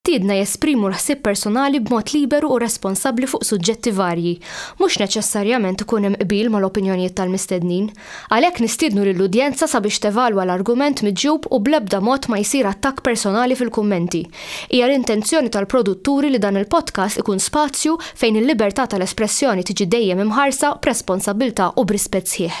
Tiedna jesprimu l-ħsieb personali b'mod liberu u responsabbli fuq suġġetti varji. Mhux neċessarjament ikun hemm qbil mal-opinjonijiet tal-mistednin. Għalhekk nistiednu lill-udjenza sabiex tevalwa l-argument miġjub u bl-ebda mod ma jsir attakk personali fil-kummenti. Hija l-intenzjoni tal-produtturi li dan il-podcast ikun spazju fejn il-libertà tal-espressjoni tiġi dejjem imħarsa b'responsabbiltà u b'rispett sħiħ.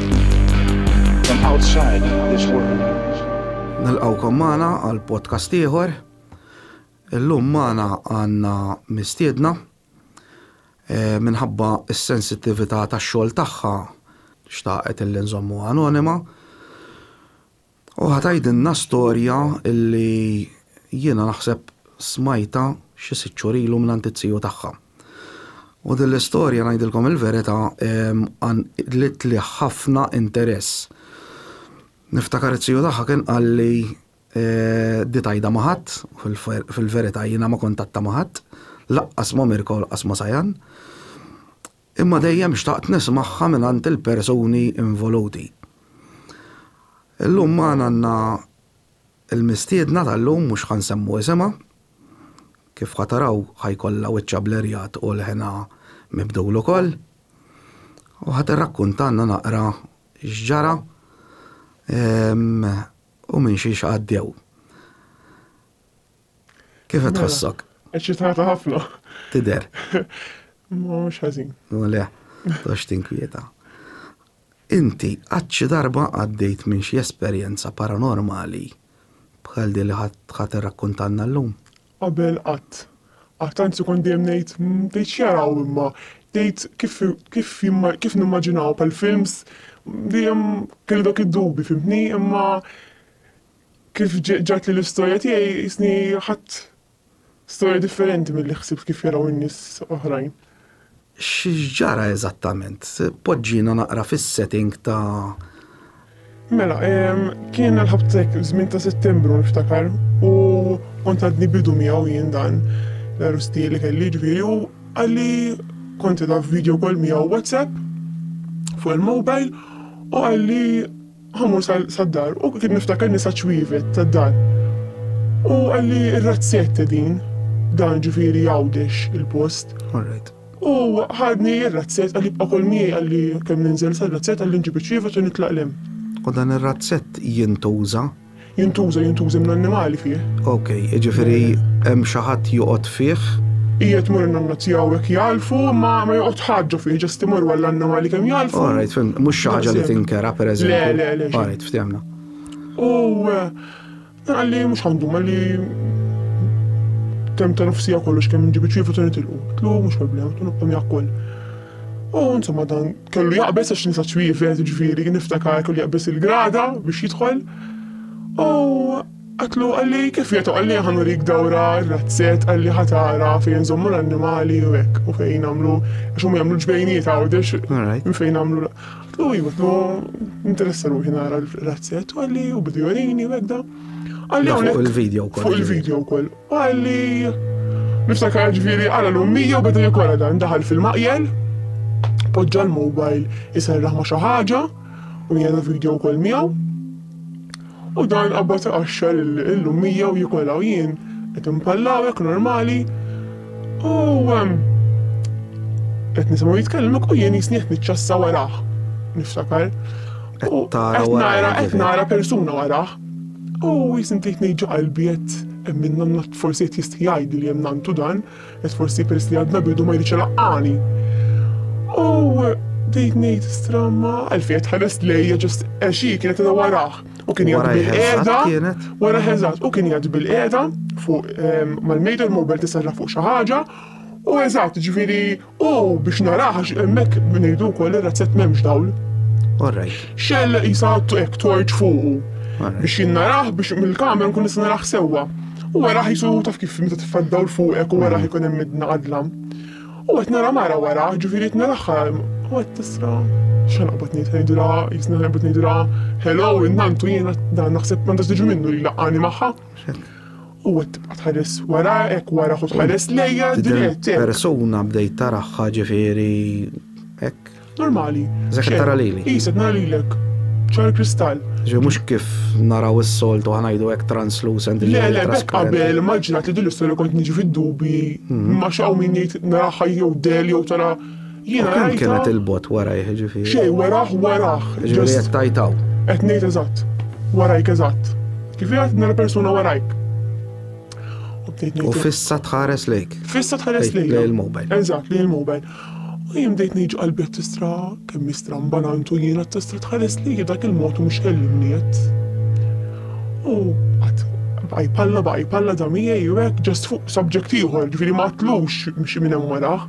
Nilqawkom magħna għal podcast ieħor. Illum magħna għandna mistiedna eh, minħabba s-sensittività tax-xogħol tagħha xtaqet il-inżommu anonima. U ħa tgħidilna storja li jiena naħseb smajtha xi sitt xhur ilu mingħand it-tiju tagħha. U din l-istorja ngħidilkom il-verità qanqlitli ħafna interess. Niftakar it-tiju tagħha kien qalli di tgħidha ma' ħadd, fil-verità jiena ma kont għadtha ma' ħadd, laqqas ma' Mirko u laqqas ma' Sajan. Imma dejjem xtaqt nismagħha mingħand il-persuni involuti. Illum magħna għandna l-mistiedna tal-lum mhux ħa nsemmu isimha. Kif ħa taraw ħa jkollha wiċċha blerjat u leħinha mibdul ukoll. U ħa tirrakkuntalna naqra x'ġara u minn xiex għaddew. Kif qed tħossok? Eċċitata ħafna. Tidher. Mhux ħażin. U le, tox tinkwieta. Inti qatt xi darba għaddejt minn xi esperjenza paranormali bħal din li ħadd irrakkuntanna llum? Qabel qatt. Qatt anzi kont dejjem ngħid "Mm, tgħid x'jaraw imma tgħid kif kif jimma- kif nimmaġinaw pal-films dejjem kelli dak id-dubi fimtni imma Kif ġatli l-istorja tiegħi qisni ħadt storja differenti milli ħsibt kif jaraw in-nies oħrajn. X'ġara eżattament? Poġġina naqra fis-setting ta' Mela, kien l-ħabtek żmien ta' Settembru niftakar u kont għadni bidu miegħu jien dan l-arresti li kelli ġifieri u għalli kont edha video call miegħu WhatsApp fuq il-mobile u għalli Ħamur sad-dar u kien niftakar nisa ċwievet tad-dar. U qalli r-razzette din, dan ġifieri Għawdex il-post. Alright. U ħadni r-razzett qalli bqa' kol miegħi qalli kemm ninżel sar-razzett qalli nġib iċ-ċwievet u nitlaq l-hemm. U dan ir-razzett jintuża Jintuża, jintuża minn annimali fih. Ok, jiġifieri hemm xi ħadd joqgħod fih? Qiegħed mur nanna tiegħu hekk jalfu, ma ma joqgħod ħaġġa fih, ġast imur walla annimali kemm jalfu. All right, fim, mhux xi ħaġa li tinkera pereżempju. Le, le, le. All right, ftemna. U għalli mhux għandu għalli tem ta' nofsija kollox kemm ġibi ċifu tuni tilqu. Tlu mhux problema, tunu qom jakkol. U insomma dan kellu jaqbes għax nisa ċwievet, ġifieri niftakar kellu jaqbes il-grada biex jidħol. U għatlu għalli kif jgħetu għalli għanu rik dawra razzet għalli ħatara fejn zommu l-annimali u għek u fejn għamlu xum għamlu ġbejniet għawdex u fejn għamlu għatlu jgħatlu interessa ruħi nara razzet u għalli u bidu għalini u għek da għalli għawnek fuq il-video kol Għalli, niftakar ġviri għala l-ummija u beda jikola dan daħal fil-maqjel, poġġa l-mobile jiserraħ ma xaħġa u jena video kol miegħu. U dan qabba ta' qaxxar l-ummija u jikola u jien qed impallawek normali. U qed nisimgħu jitkellmek u jien jisni qed niċċassa waraħ. Niftakar. Qed nara persuna waraħ. U jisni tgħid ngħid ġo qalbi qed hemm min nanna forsi qed jistħi jgħidli li hemm nantu dan, qed forsi peress li għadna bidu ma jridx ilaqqani. U bdejt ngħid stramma għalfejn qed tħares lejja ġust għax hi kienet qiegħda warah u kien jgħid bil-qiegħda wara ħeżat u kien jgħid bil-qiegħda fuq ehm, mal-mejda l-mobile tisarra fuq xi ħaġa u eżatt ġifieri U biex narah għax hemmhekk min jgħidu wkoll ir-razzett m'hemmx dawl. Orrajt. Xell jisa hekk torċ fuqu. Biex jinnarah biex mill-kamera nkun nista' narah sewwa. U wara ħisu taf kif meta titfa' dawl fuqek u wara ħikun hemm midna għadlam. U qed nara mara wara, ġifieri qed narahha u qed tisra. X'għan qabad ngħid ngħidilha, jisna qabad ngħidilha, hello, innantu jiena dan naħseb m'għandax tiġi minnu li laqani magħha. U qed tibqa' tħares wara, hekk wara ħu tħares lejja dirett hekk. Persuna bdejt taraha ġifieri hekk. Normali. Żek qed tara lili. Qis qed nara lilek. Ċar kristall. Ġi mhux kif naraw is-soltu ħanajdu hekk translucent. Le le bek qabel maġġinat li din l-istorja kont niġi fid-dubi. Ma x'hawn min jgħid naraha jew del jew tara Jiena rajtha. Kemm kienet il-bogħod warajh, jiġifieri? Xejn, warah, warah. Jiġifieri qed tgħid hawn. Qed ngħid eżatt. Warajk eżatt. Kif qed nara persuna warajk. U fissa tħares lejk. Fissa tħares lejk. Lej il-mobile. Eżatt, lej il-mobile. U jien bdejt ngħid qalbi qed tistra kemm istra mbanantu jiena tistra tħares lejk dak il-mod mhux kellimni qed. U qatt baj palla baj palla da miegħi u hekk ġast fuq subject ieħor, ġifieri ma tlux mxi minn hemm wara.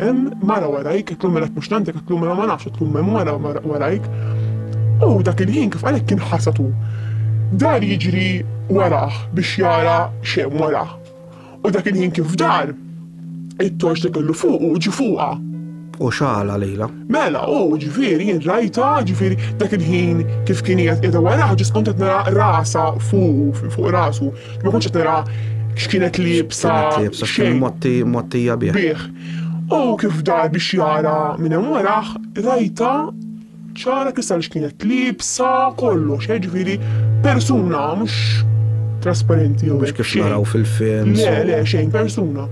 Hemm mara warajk, qed tlum mela mhux tantek, qed tlum mela ma nafx, qed tlum hemm mara warajk. U dak il-ħin kif qalek kien ħasatu. Dar jiġri warah biex jara x'hemm warah. U dak il-ħin kif dar, it-torċ li kellu fuqu ġie fuqha. U xagħalha lejlha. Mela, u, ġifieri, jien rajtha, ġifieri, dak il-ħin kif kien qiegħed qiegħda waraha ġust kont qed nara rasha fuqu, fuq rasu, ma kontx qed nara x'kienet liebsa, xejn. Mottija bih. Bih. U kif dar biex jara minn hemm warah, rajtha ċara kristall x'kienet liebsa, kollox, eh, ġifieri, persuna, mhux trasparenti jew hekk. Mhux kif naraw fil-films. Le, le, xejn, persuna.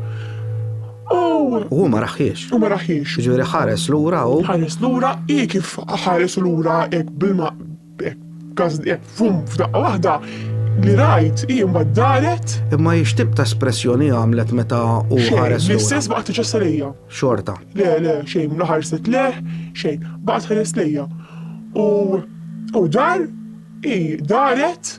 U hu ma raħiex. U ma raħiex. Ġuri ħares lura u. Ħares lura i kif ħares lura hekk bilma hekk fum f'daqqa waħda li rajt i mbagħad daret. Imma hi x'tib ta' espressjoni għamlet meta u ħares. L-istess baqgħet tiġess lejja. Xorta. Le, le, xejn la ħarset leħ, xejn, baqgħet ħares lejja. U u dar i daret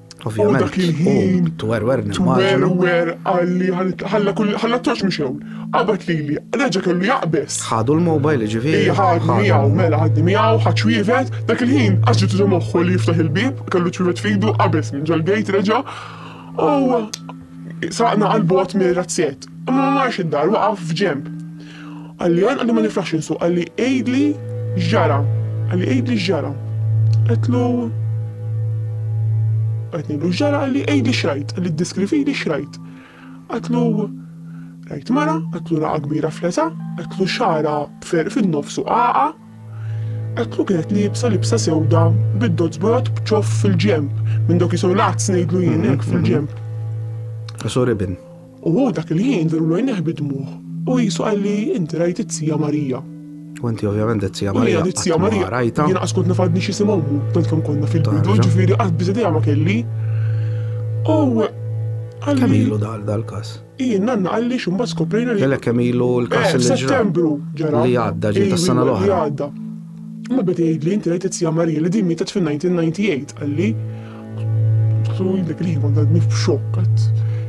Ovvjament. Dak il-ħin. Twerwer nimmaġinu. Twerwer għalli ħalla kull ħalla toċ mhux hewn. Qabad lili, reġa' kellu jaqbes. Ħadu l-mobile ġifieri. Ija ħadni miegħu, mela ħadni miegħu, ħadd xwievet, dak il-ħin għax ġitu moħħu li jiftaħ il-bib, kellu ċwievet fidu, qabeż minn ġol-gejt reġa'. U saqna qalbu għat mir-razzjett. Ma marx id-dar, waqaf f'ġemp. Qalli għan qalli ma niflaħx insuq, qalli għidli x'ġara, qalli għidli x'ġara. Għetlu qed ngħidlu x'ġara qalli għidli x'rajt, qalli ddeskrivili x'rajt. Għetlu rajt mara, għetlu raqa kbira fleta, għetlu xara b'ferq fin-nofsu qaqa, għetlu kienet libsa libsa sewda bid-dozz bojot b'ċoff fil-ġemp, minn dok jisow l-azz ngħidlu jien hekk fil-ġemp. Sorry bin. U hu dak il-ħin verulu għajnejh bid-dmugħ, u qisu qalli, Inti rajt it-Zija Marija. U inti ovvjament dit-Zija Marija qatt ma rajtha. U jiena dit-Zija Marija, jiena qatt kont naf għadni x'isim ommu, tant kemm konna fil-bidu, ġifieri qatt biss idea ma kelli. U qalli. Kemm ilu dan dal-każ? Hi, n-nanna qalli x'imbagħad skoprejna li. Kellek kemm ilu l-każ li ġra. F'Settembru ġara. Li għadda ġiet tas-sena l-oħra. Li għadda. Ma beda jgħidli inti rajt it-Zija Marija li din mietet fin-1998 qalli. Su dak li kont għadni f'xokk għad.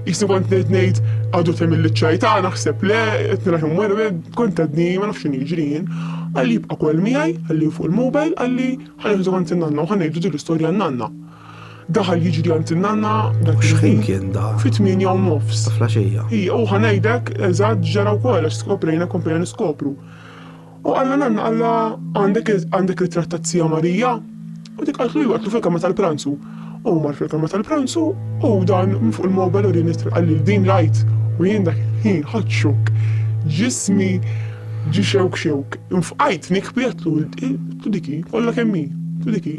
Jisni kont nejt nejt għadu tem il-ċajta, naħseb le, etnila jom għarbe, kont għadni ma nafxin iġrin. Għalli jibqa kol miħaj, għalli fuq il-mobile, għalli ħanħidu għant nanna u ħanħidu dik l-istoria nanna. Daħal jiġri għant nanna, dak xħin kien da. Fit min jom nofs. Flaxija. Ija, u ħanajdek, eżad ġara u kol, għax skoprejna, komprejna niskopru. U qalla nanna qalla għandek għandek ritratt ta' Zija Marija? U dik qaltlu iva qatlu fil-kamra tal-pranzu. U mar fil-kamra tal-pranzu u dan minn fuq il-mobile u rini qalli din rajt u jien dak ħin ħadd xokk. Ġismi ġi xewk xewk. Infqajt nikbi qatlu diki kollha kemm hi, diki.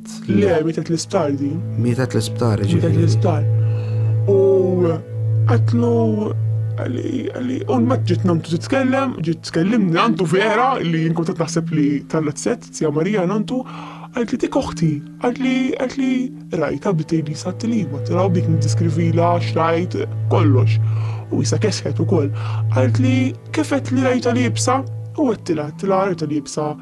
Le, mietet l-isptar di. Mietet l-isptar, ġifieri. Mietet l-isptar. U qatlu għalli un ma ġiet namtu titkellem, ġiet tkellimni għandu vera li jinkuntat naħseb li tallat set, zja Marija nantu, għalt li dik oħti, għalt li għalt li rajta bdejt li sat li ma taraw bik nidiskrivila xrajt kollox. U jisa kesħet ukoll, għalt li kifet li rajta li jibsa, u għettila, tila rajta li jibsa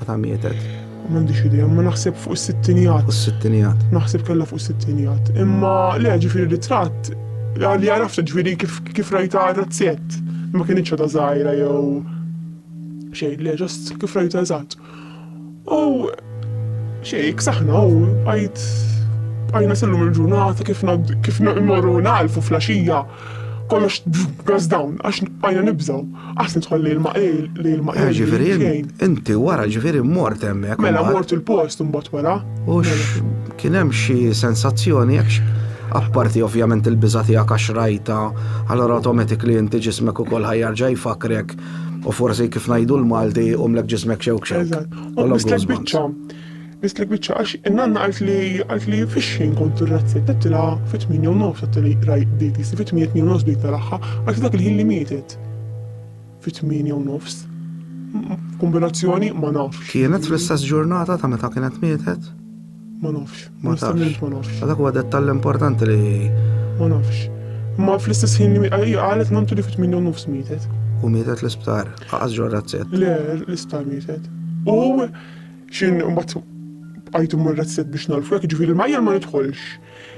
Meta mietet? M'għandix idea, imma naħseb fuq is-sittinijat. Fuq is-sittinijat. Naħseb kellha fuq is-sittinijat. Imma le ġifieri ritratt li għarafta ġifieri kif kif rajta razzett. Ma kienitx ta' żgħira jew xejn, le ġost kif rajta eżatt. U xejn, ksaħna u għajt għajna sellum il-ġurnata kif kif nagħlfu fl-għaxija. kollox goes down, għax bajna nibżaw, għas nidħol li l-ma li l-ma eh, Ġifiri, inti wara ġifiri mort emmek. Mela mort il-post mbagħad wara. U kien hemm xi sensazzjoni jekk apparti ovvjament il-biża tiegħek għax rajta, allora automatically inti ġismek ukoll ħajjarġa jfakrek u forsi kif ngħidu l-Malti u mlek ġismek xewk xewk. Eżatt. U biċċa Mislek biċċa għax in-nanna qalt li qalt li fix-xejn kont irrazzjat għedtilha fit-tmienja u nofs għedtilha raj bdejt qisti fit-tmienja tmienja u nofs bdejt naraha għal dak il-ħin li mietet fit-tmienja u nofs kombinazzjoni ma nafx. Kienet fl-istess ġurnata ta' meta kienet mietet? Ma nafx. Ma tafx. Ma nafx. Dak huwa dettall importanti li. Ma nafx. Ma fl-istess ħin li qalet mamtu li fit-8 nofs mietet. U mietet l-isptar, aqas ġorrazzet. Le, l-isptar mietet. U X'in imbagħad bqajt immur razzett biex nagħlfu hekk, jiġifieri l-majjal ma nidħolx.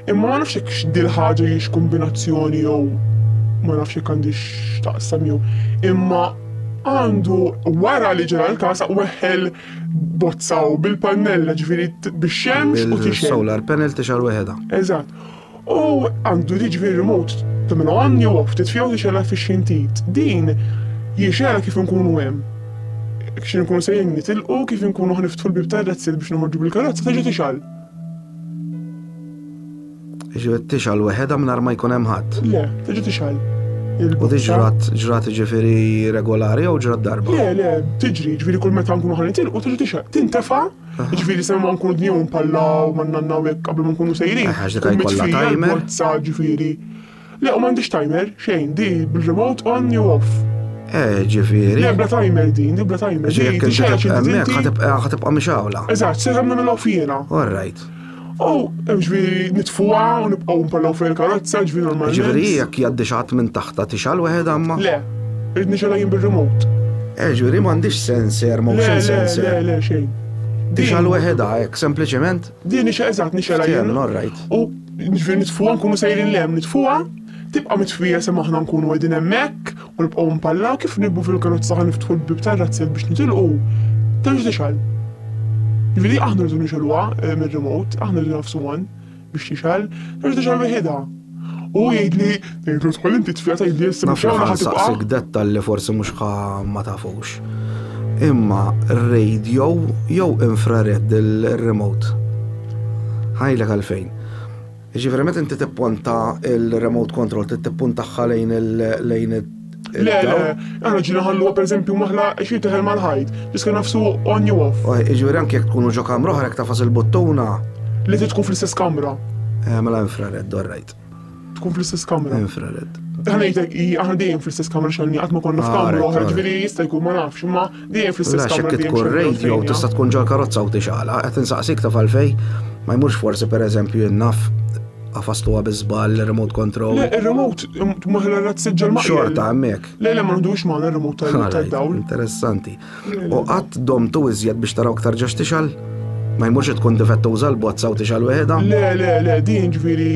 Imma ma nafx hekk x'dil ħaġa hiex kombinazzjoni jew ma nafx hekk għandix x'taqsam jew. Imma għandu wara li ġara l-każ weħħel bozzaw bil-pannella ġifieri bix-xemx u tixgħel. Solar panel tixgħel weħedha. Eżatt. U għandu jiġri remote ta' minn għan jew ftit fjew jixela fi xintit. Din jixela kif nkunu hemm. Kxin nkunu sejjen nitilqu kif nkunu ħniftħu l-bib tar-rezzil biex noħorġu bil-karozza teġa' tixal. Ġifieri tixal weħedha mingħajr ma jkun hemm ħadd. Le, teġa' tixal. U di ġrat, ġrat ġifieri regolari jew ġrat darba? Le, le, tiġri, ġifieri kull meta nkunu ħanitilqu teġa' tixal. Tintefa' Ġifiri se ma nkunu dniew mpallaw, ma nanna hekk qabel ma nkunu sejrin. Eh, għax dik Kummi jkollha tfila, timer. l-bozza, ġifiri. Le, u m'għandix timer, xejn, di bil-remote on jew off. Eh, ġifieri. Le, bla timer din, di bla timer. Ġi jekk inti tibqa' hemmhekk ħatibqa' ħatibqa' mixawla. Eżatt, se żamna mill-off jiena. All right. U ġviri nitfuha u nibqgħu nparlaw fuq il-karozza, ġviri normalment. Ġviri jekk jgħaddi xatt minn taħta tixal weħed għamma? Le, rrid nixalha jien bir-remote. Eh, ġviri m'għandix senser, motion senser. Le, le, xejn. Tixal weħedha hekk, sempliċement? Din nixel eżatt nixelha jien. U ġviri nitfuha nkunu sejrin lem, nitfuha, tibqa' mitfija se maħna nkunu qegħdin hemmhekk U nibqgħu mpalla kif nibbu fil-karozza ħa niftħu l-bieb tar-razzett biex nitilqu, terġa' tixgħel. Jiġifieri aħna rridu nixgħeluha eh, mir-remote, aħna rridu nafsu on biex tixgħel, terġa' tixgħel weħidha. U huwa jgħidli, ngħidlu tħol inti tfija tgħidli issa biex tixgħel ħa tibqa'. dettal li forsi mhux ma tafux. Imma radio jew infrared il-remote. Ħajlek għalfejn. Jiġifieri meta inti tipponta il-remote control trid tippuntagħha lejn lejn Le, le, aħna ġina ħalluha pereżempju maħla xi teħel mal-ħajt, tiska nafsu on jew off. Jiġifieri anke jekk tkunu ġo kamra oħra jekk tafas il-buttuna. Li trid tkun fl-istess kamra. Eh, mela infrared, all right. Tkun fl-istess kamra. Infrared. Ħanejtek, aħna dejjem fl-istess kamra xanni, għatma konna f'kamra ah, oħra, ġviri jista' jkun ma nafx, ma Lax jekk tkun radio tista' tkun ġol karozza u tixgħalha, qed insaqsik taf għalfej ma jmurx forsi pereżempju jinnaf għafastuha biżball remote control. Le, ir-remote maħla rat siġġel ma' xorta hemmhekk. Le, le ma nħdux ma' remote tal-dawl. Interessanti. U qatt dom tu iżjed biex taraw ktar ġax tixal? Ma jmurx tkun difettuża l-bozza u tixal weħda? Le, le, le, din ġifieri.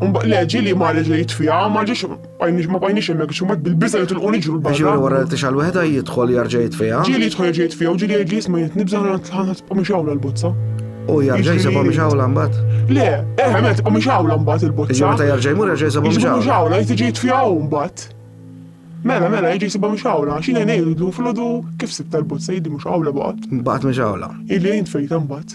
Mbaq leġi li ma reġa jitfija, ma ġiex Bajniex ma bajniex hemmhekk għax huma bil-biża' jitilqu niġru l-barra. Biex juri wara li tixgħal wieħda jidħol jarġa' jitfiha. Ġieli jidħol jarġa' jitfiha u ġieli jgħidli isma' jien nibża' ħana tibqa' mixgħula l-bozza. U jarġa' jsibha mixgħula mbagħad? Le, eh, meta tibqa' mixgħula mbagħad il-bozza. Jiġi meta jarġa' jmur jarġa' jsibha mixgħula. Jiġi mixgħula jtiġi jitfiha hu mbagħad. Mela, mela, jiġi jsibha mhux għawla, xi ngħin ngħidlu filgħodu kif sibta l-bozza jiddi mhux għawla baqgħet. Baqgħet mhux għawla. Illi jintfejta mbagħad.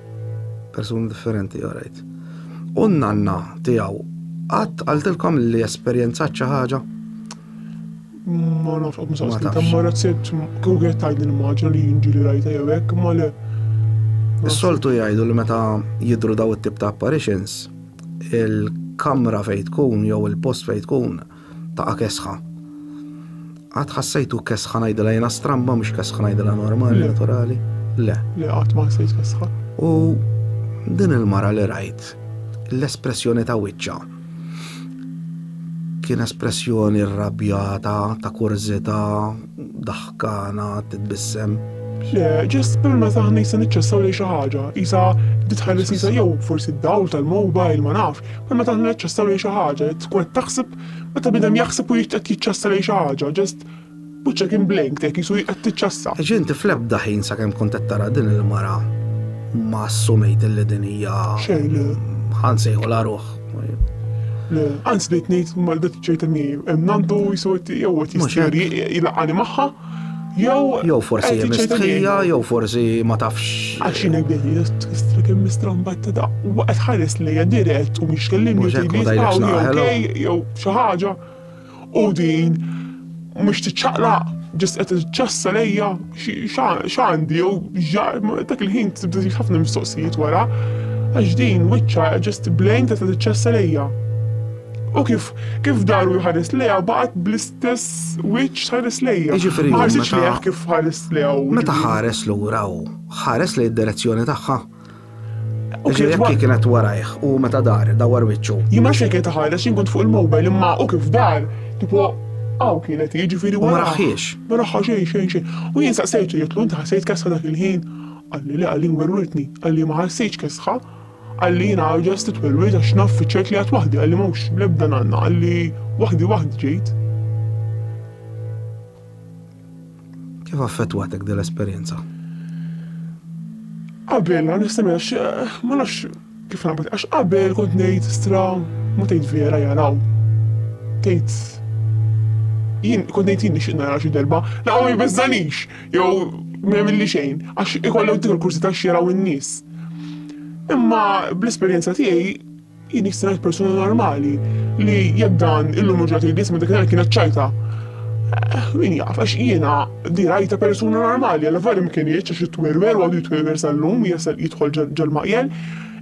Persuni differenti, all right. U n-nanna tiegħu qatt qaltilkom li esperjenzat xi ħaġa? Ma nafx qatt ma saqsitha, ma razzett kieku kienet tgħidli ma ġa li jinġieli rajta jew hekk, ma le. Is-soltu jgħidu li meta jidru daw it-tip ta' apparitions, il-kamra fejn tkun jew il-post fejn tkun Taqa' kesħa. Qatt ħassejtu kesħa ngħidilha jiena stramba mhux kesħa ngħidilha normali, naturali? Le. Le qatt ma ħassejt kesħa. U din il-mara li rajt l-espressjoni ta' wiċċa kien espressjoni rrabjata, ta' kurzita, daħkana, titbissem. Le, ġest per meta ħna jisa niċċessaw li xi ħaġa, jisa ditħalli sisa jew forsi d-dawl tal-mobile ma nafx, Imma meta aħna niċċassaw lejn xi ħaġa, qed tkun qed taħseb meta bniedem jaħseb u jrid qed jiċċassa lejn xi ħaġa, ġast wiċċek kien blank tek qisu qed tiċċassa. Għax inti fl-ebda ħin sakemm kont qed tara din il-mara ma assumejt li din hija Xejn le. ħansejħu la ruħ. Le, anzi bdejt ngħid mal bdiet ċerta mi hemm nandu jisu qed jew qed Mhux hekk. jisteri jilaqani magħha. Jew forsi hi mistħija, jew forsi ma tafx. Għax jiena jbinni tfissrek immistrombat ta' daqq u qed ħares lejja dirett u mhix kellimni u tgħidli jew xi ħaġa. U din mhux tiċċaqlaq ġest qed iċċassa lejja x'għandi jew dak il-ħin tibda ħafna mistoqsijiet wara għax din wiċċa ġest blejn qed iċċassa lejja. U kif kif daru jħares leja baqgħet bl-istess wiċċ tħares lejja. Jiġifieri ma ħarsitx lejha kif ħares lejha. Meta ħares lura u ħares lejn id-direzzjoni tagħha. U kif jekk kienet warajh u meta dar dawar wiċċu. Jien ma xejn ħares jien kont fuq il-mobile imma u kif dar tipo Aw kienet jiġifieri wara. Ma raħħiex. Ma raħħa xejn xejn xejn. U jien saqsejtu jitlu inti ħassejt kesħa dak il-ħin. Qalli li għalli werwirtni, għalli ma ħassejtx kesħa. Qalli jiena I'll just sit well wait għax naf fiċ-ċert li għad waħdi qalli m'hawnx l-ebda nanna qalli waħdi waħdi ġejt. Kif affettwatek din l-esperjenza? Qabel għan nistemel għax eh, ma nafx kif nagħmel għax qabel kont ngħid stra ma tgħid vera jaraw. Tgħid jien kont ngħid jien nixtieq nara xi darba, la ma jbeżżanix. jew ma jagħmilli xejn għax ikollok dik il-kursità x'jaraw in-nies. Imma bl-esperjenza tiegħi jien nixtieq persuna normali li jekk dan illum ġrat il ma dik kienet ċajta. Eh, min jaf, għax jiena dirajta persuna normali, għal verim kien jieċ għax jitwerwer, għadu jitwerwer sal-lum, jasal jitħol ġal-maqjel.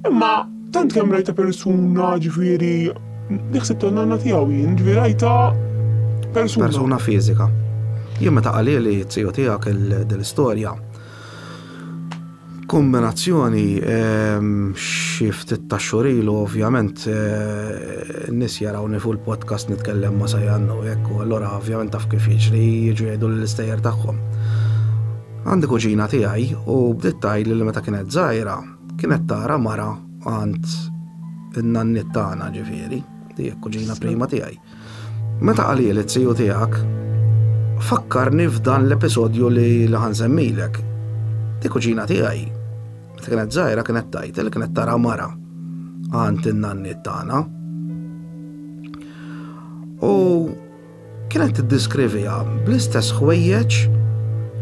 Imma tant kemm rajta persuna ġifieri neħseb ta' nanna tiegħu jien, ġifieri rajta persuna. Persuna fiżika. Jien meta qalili t-tiju tiegħek l-istorja. Kombinazzjoni ehm, xi ftit ta' xurilu ovvjament eh, nis jaraw nifu l-podcast nitkellem ma' sajannu jekk u allura ovvjament taf kif jiġri jiġu jgħidu l-istejjer tagħhom. Għandi kuġina tiegħi u bdiet tgħid li meta kienet żgħira Kienet tara mara għand in-nanniet tagħna ġifieri, li hekk kuġina prima tiegħi. Meta qalili t-tiju tiegħek, fakkarni f'dan l-episodju li ħansemmilek. Di kuġina tiegħi, meta kienet żgħira kienet tajt li kienet tara mara għand in-nanniet tagħna. U Kienet tiddeskriviha bl-istess ħwejjeġ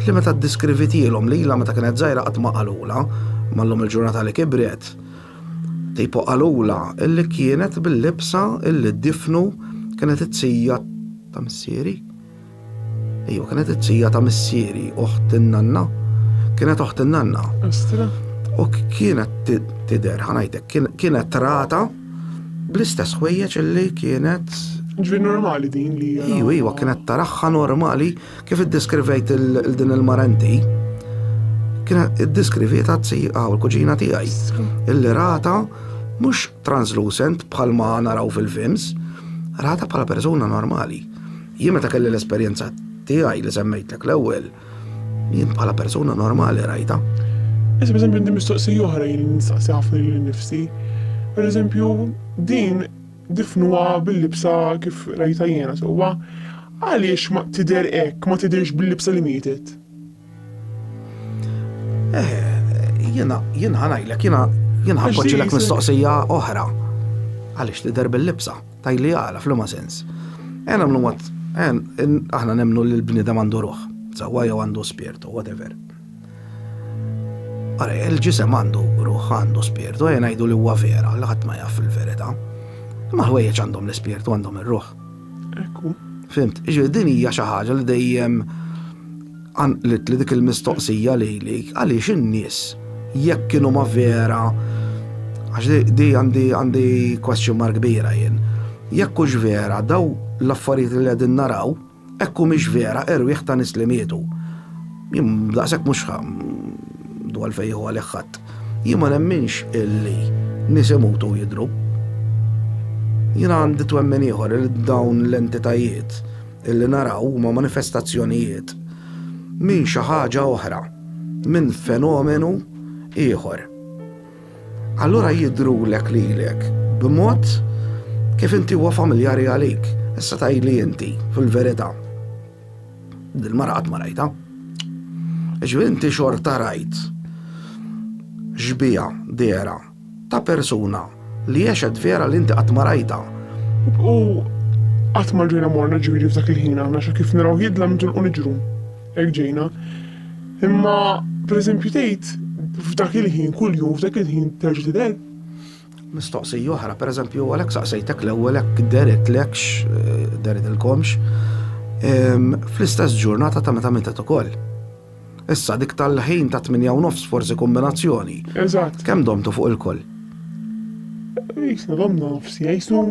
li meta ddeskrivitielhom lilha meta kienet żgħira qatt ma qalulha, imma llum il-ġurnata li kibret, tipo qalulha illi kienet bil-libsa illi ddifnu kienet it-tija ta' missieri. Ejwa, kienet it-tija ta' missieri, oħt in-nanna. Kienet oħt in-nanna. Astra. U kienet tidher, ħanajtek, kienet trata Bl-istess ħwejjeġ illi kienet. Ġvi normali din li. Iwa, iwa, kienet taraħħa normali kif iddeskrivejt il-din il-marenti. Kienet iddeskriviet għazzi għaw il-kuġina tijaj. Illi rata mux translucent bħal ma naraw fil-films, rata bħala persona normali. Jien meta kelli l-esperjenza tiegħi li semmejtlek l-ewwel, Jien bħala persuna normali rajta. Issa per eżempju mistoqsija oħra jien nistaqsi ħafna lil nifsi. Per eżempju, din difnuha bil-libsa kif rajta jiena sewwa. Għaliex ma tidher hekk, ma tidhirx bil-libsa li mietet? Eh, jiena jiena ħanajlek, jiena jiena ħanpoġġilek mistoqsija oħra. Għaliex tidher bil-libsa? Tajli għala, flima sens. Għen għamlu mat, għen, aħna nemnu li l-bnidem għandu ruħ, zawa jew għandu spirtu, whatever. Għara, il-ġisem għandu ruħ, għandu spirtu, għen għajdu li huwa vera, li ħadd ma jaf il-verita. Ma ħwejjeġ għandhom l-spirtu, għandhom il-ruħ. Ekku. Fimt, ġi din hija xi ħaġa li dejjem Qanqlitli dik il-mistoqsija lili, għaliex in-nies jekk kienu ma vera, għax di għandi għandi question mark kbira jien, jekk hux vera daw l-affarijiet li qegħdin naraw, hekk humiex vera erwieħ ta' nies li mietu. Jien daqshekk mhux għandu għalfejn jieħu għalih ħadd. Jien ma nemminx illi nies imutu u jidhru. Jiena għandi twemmin ieħor li dawn l-entitajiet, Illi naraw huma manifestazzjonijiet minn xi ħaġa oħra, minn fenomenu ieħor. Allura jidrulek lilek b'mod kif inti huwa familjari għalik, issa tajli inti fil-verità. Dil-mara qatt ma rajta. Ġifieri inti xorta rajt xbija dera Ta' persuna li għexet vera li inti qatt ma rajtha. U qatt ma ġejna morna ġifieri f'dak il-ħin aħna xa kif narawh jidlam nitilqu niġru. Hekk ġejna. Imma pereżempju tgħid f'dak il-ħin kuljum f'dak il-ħin terġa' tidher? Mistoqsija oħra, pereżempju għalhekk saqsejtek l-ewwel hekk deritlekx, deridilkomx, fl-istess ġurnata ta' meta mietet ukoll. Issa dik tal-ħin ta' tminja u nofs forsi kombinazzjoni. Eżatt. Kemm domtu fuq il-koll? Jisna domna nofs jgħisu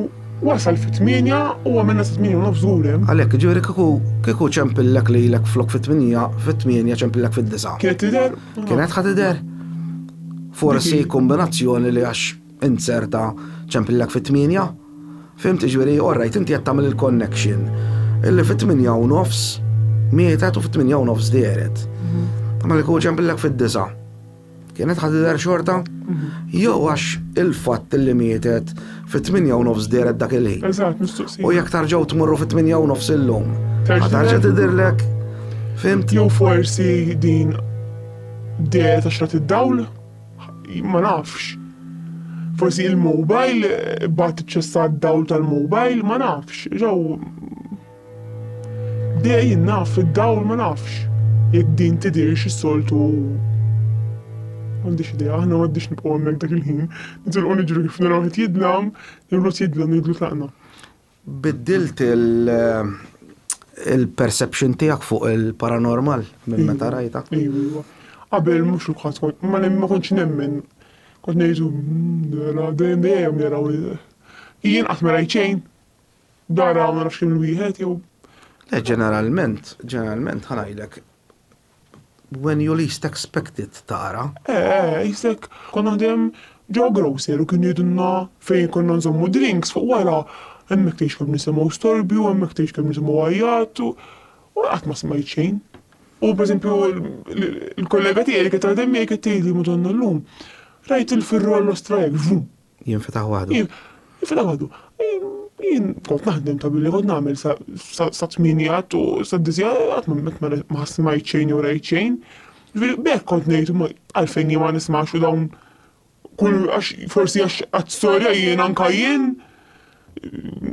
wasal fit tminja u għamilna sa tminja u nofs għulem. Għalek, ġiviri kiku kiku ċempillek li l-ek flok fit tminja fit tminja ċempillek fit disa. Kienet tider? Kienet ħatider? Forsi kombinazzjoni li għax Inzerta ċempillek fit-tmienja. Fhimt, jiġifieri, orrajt, inti qed tagħmel il-connection illi fit-tmienja u nofs mietet u fit-tmienja u nofs dehret. Imma kieku ċempillek fid-disgħa, kienet ħa tidher xorta? Jew għax il-fatt illi mietet fit-tmienja u nofs dehret dak il-ħin. Eżatt, mistoqsija. U jekk tarġgħu tmorru fit-tmienja u nofs illum, ħa tarġa' tidhirlek? Fhimt? Jew forsi din dehret għax rat id-dawl? Ma nafx. Forsi il-mobile bat ċessat dawl tal-mobile, ma nafx. Ġew dej naf id-dawl ma nafx. Jekk din tidirx is-soltu għandix idea, aħna għaddix nibqgħu hemmhekk dak il-ħin. Nitilqu niġru kif naraw qed jidlam, niblu jidlam, niblu tlaqna. Biddilt il-perception tiegħek fuq il-paranormal minn meta rajta? Iva. Qabel mhux uħad kont ma ma kontx nemmen. Kont ngħidu nara hmm, dejjem dejjem naraw jien qatt ma rajt xejn. Dara ma nafx kemm il-wieħed jew. Le ġeneralment, ġeneralment ħanajlek When you least expect it tara. Eeh, jisek konna dejjem ġewwa grocer u kienu jgħidulna fejn konna nżommu drinks fuq wara, hemmhekk tgħix kemm nisimgħu storbju, hemmhekk tgħix kemm nisimgħu għajjat u u qatt ma smajt xejn. U pereżempju l-kollega tiegħi li kienet taħdem miegħi kienet tgħidli, Madonna llum rajt il-firru għall-Ostraja, vrum! Jinfetaħ waħdu. Jinfetaħ waħdu. Jien kont naħdem ta' billi kont nagħmel sa tminijat u sa dizja qatt ma ħassi ma jċejn u rajċejn. Bekk kont ngħid għalfejn jien ma nismax u dawn kull għax forsi għax għat-storja jien anka jien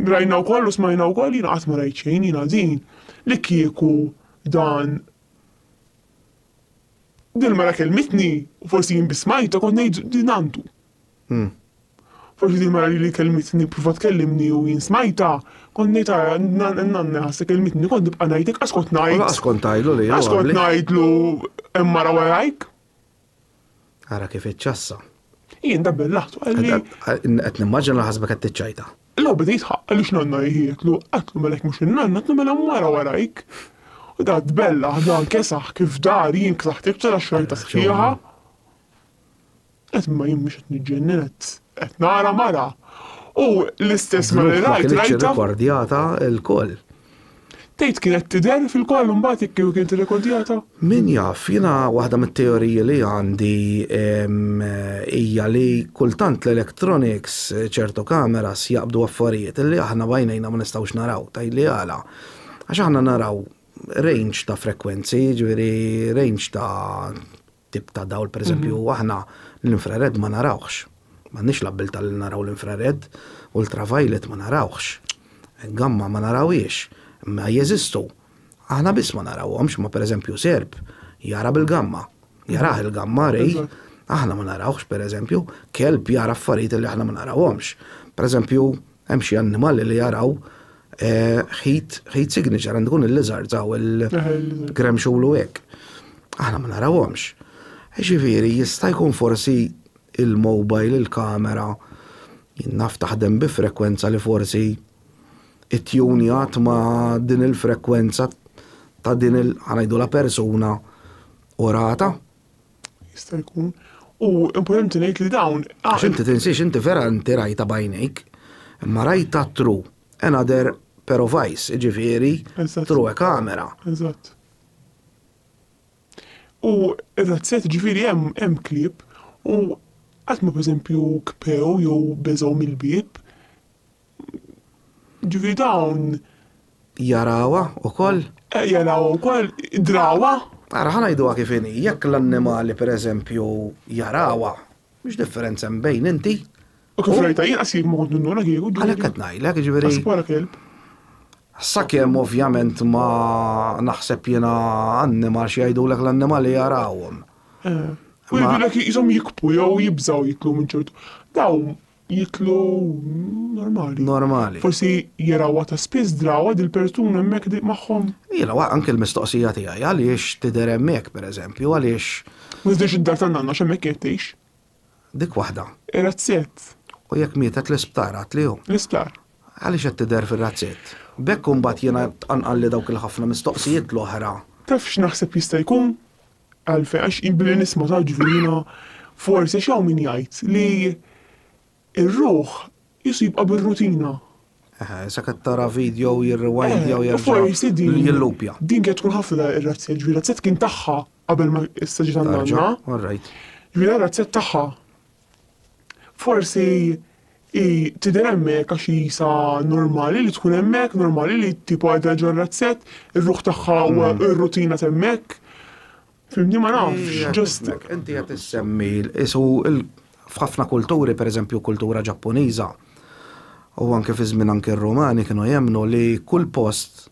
rajna wkoll u smajna wkoll jien qatt ma rajċejn jien din li kieku dan Din mara kelmitni, u forsi jien bismajta kont ngħid din għandu. Hm. Forsi din mara li kellmitni provat kellimni u jien smajtha, kont ngħid ara n-nanna ħassa kelmitni kont nibqa' ngħid inqas kont ngħid. Inqas kont ngħidlu li. Inqas kont ngħidlu hemm mara warajk. Ara kif iċċassa. Jien dabbel laħtu għalli. Qed nimmaġina ħasbek qed tiċċajta. Law beda jitħaq għaliex nanna jħietlu, għatlu melek mhux in-nanna, għatlu mela mara warajk. U da tbella, da kesaħ kif dar jien ksaħt iktar għax xorta sħiħa. Qed imma jien mhux qed niġġennen qed qed nara mara. U l-istess mara li rajt rajtha. Rekordjata lkoll. Tgħid kienet tidher fil-koll imbagħad jekk kieku kienet irrekordjata? Min jaf, jiena waħda mit-teoriji li għandi hija li kultant l-electronics ċertu kameras jaqbdu affarijiet li aħna b'għajnejna ma nistgħux naraw. Tgħidli għala? Għax aħna naraw range ta' frekwenzi, jiġifieri range ta' tip ta' dawl, pereżempju, aħna l-infrared ma narawhx. M'għandniex l-abbiltà li naraw l-infrared, ultraviolet ma narawhx. Gamma ma narawhiex, imma jeżistu. Aħna biss ma narawhomx, ma pereżempju Serb jara bil-gamma, jarah il-gamma rej, aħna ma narawhx pereżempju, kelb jara affarijiet li aħna ma narawhomx. Pereżempju, Hemm xi annimali li jaraw ħit eh, ħit signature għandu kun il-lizard għaw il-grem xulu hekk. Aħna ma narawhomx. Ġifieri jista' jkun forsi il-mobile, il-kamera, naf taħdem bi frekwenza li forsi it-tjunjat ma din il-frekwenza ta' din il-ħanajdu la persuna u rata jista' jkun. U importanti ngħid li dawn. Għax inti tinsiex inti vera inti rajta bajnejk, imma rajta tru another pair of eyes, ġifieri tru e kamera. Eżatt. U eżatt set ġifieri hemm hemm klieb u qatt ma pereżempju kpew jew beżgħu mill-bieb, Ġifieri dawn. Jarawha wkoll? Jarawha wkoll, drawha. Ara ħa ngħiduha kif inhi, jekk l-annimali pereżempju jarawha, x'differenza hemm bejn inti U kif rajta jien qasib ma kont ninduna kieku. Għalhekk qed ngħidlek, ġifieri. Wara kelb. Sakemm ovvjament ma naħseb jiena annimal xi jgħidulek l-annimali jarawhom. U jgħidulek jisom jikbu jew jibżgħu jitlu minn ċertu. Dawn jitlu normali. Normali. Forsi jarawa ta' spiss drawa dil-persuna hemmhekk di magħhom. Ila, wa anke l-mistoqsija tiegħi għaliex tidher hemmhekk pereżempju, għaliex. Ma tidirx id-dar ta' nanna x'hemmhekk qed tgħix. Dik waħda. Ir-razzett. U jekk mietet l-isptar għad li hu. L-isptar. Għaliex qed tidher fir-razzett. B'hekk imbagħad jiena tqanqalli dawk il-ħafna mistoqsijiet l-oħra. Taf x'naħseb jista' jkun? Għalfejn? Għax jien billi nisma' taġwi jiena forsi għax hawn min jgħid li r-ruħ qisu jibqa' bir-rutina. Eħe, sakemm tara video jirriwindja u jerġa' forsi din jillupja. Din kienet tkun ħafna ir-razzja ġifieri razzja tkun tagħha qabel ma issa ġiet għandna. All right. Ġifieri razzja tagħha Forsi hi tidher hemmhekk għax hi sa normali li tkun hemmhekk, normali li tipo qiegħda ġo r-razzett, ir-ruħ tagħha u r-rutina t'hemmhekk. Fimni ma nafx, just. Inti qed issemmi isu f'ħafna kulturi, pereżempju kultura Ġappuniża, u anke fi żmien anke r-Rumani kienu jemmnu li kull post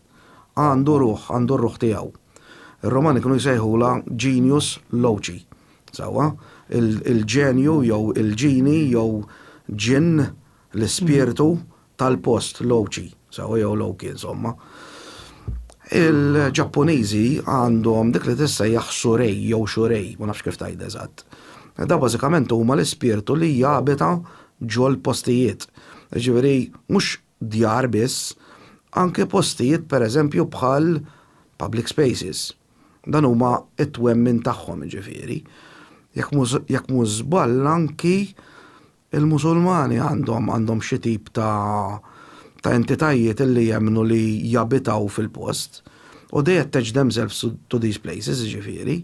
għandu ruħ, għandu r-ruħ tiegħu. Ir-Rumani kienu jsejħula genius loci. Sewwa, il-ġenju jew il-ġini jew ġinn, l-ispirtu, tal-post, l-ochi, sewwa, jew l-oki, insomma. Il-Ġappuniżi għandhom dik li tissejjaħ surei jew shurei, ma nafx kif tgħidha eżatt. Dawn bażikament huma l-ispirtu li jabita ġol-postijiet. Jiġifieri mhux djar biss, anke postijiet per eżempju bħal public spaces. Dan huma t-twemmin tagħhom jiġifieri. Jekk mhux żball anki l-Musulmani għandhom għandhom xi tip ta' ta' entitajiet li jemmnu li jabitaw fil-post u they attach themselves to these places jiġifieri.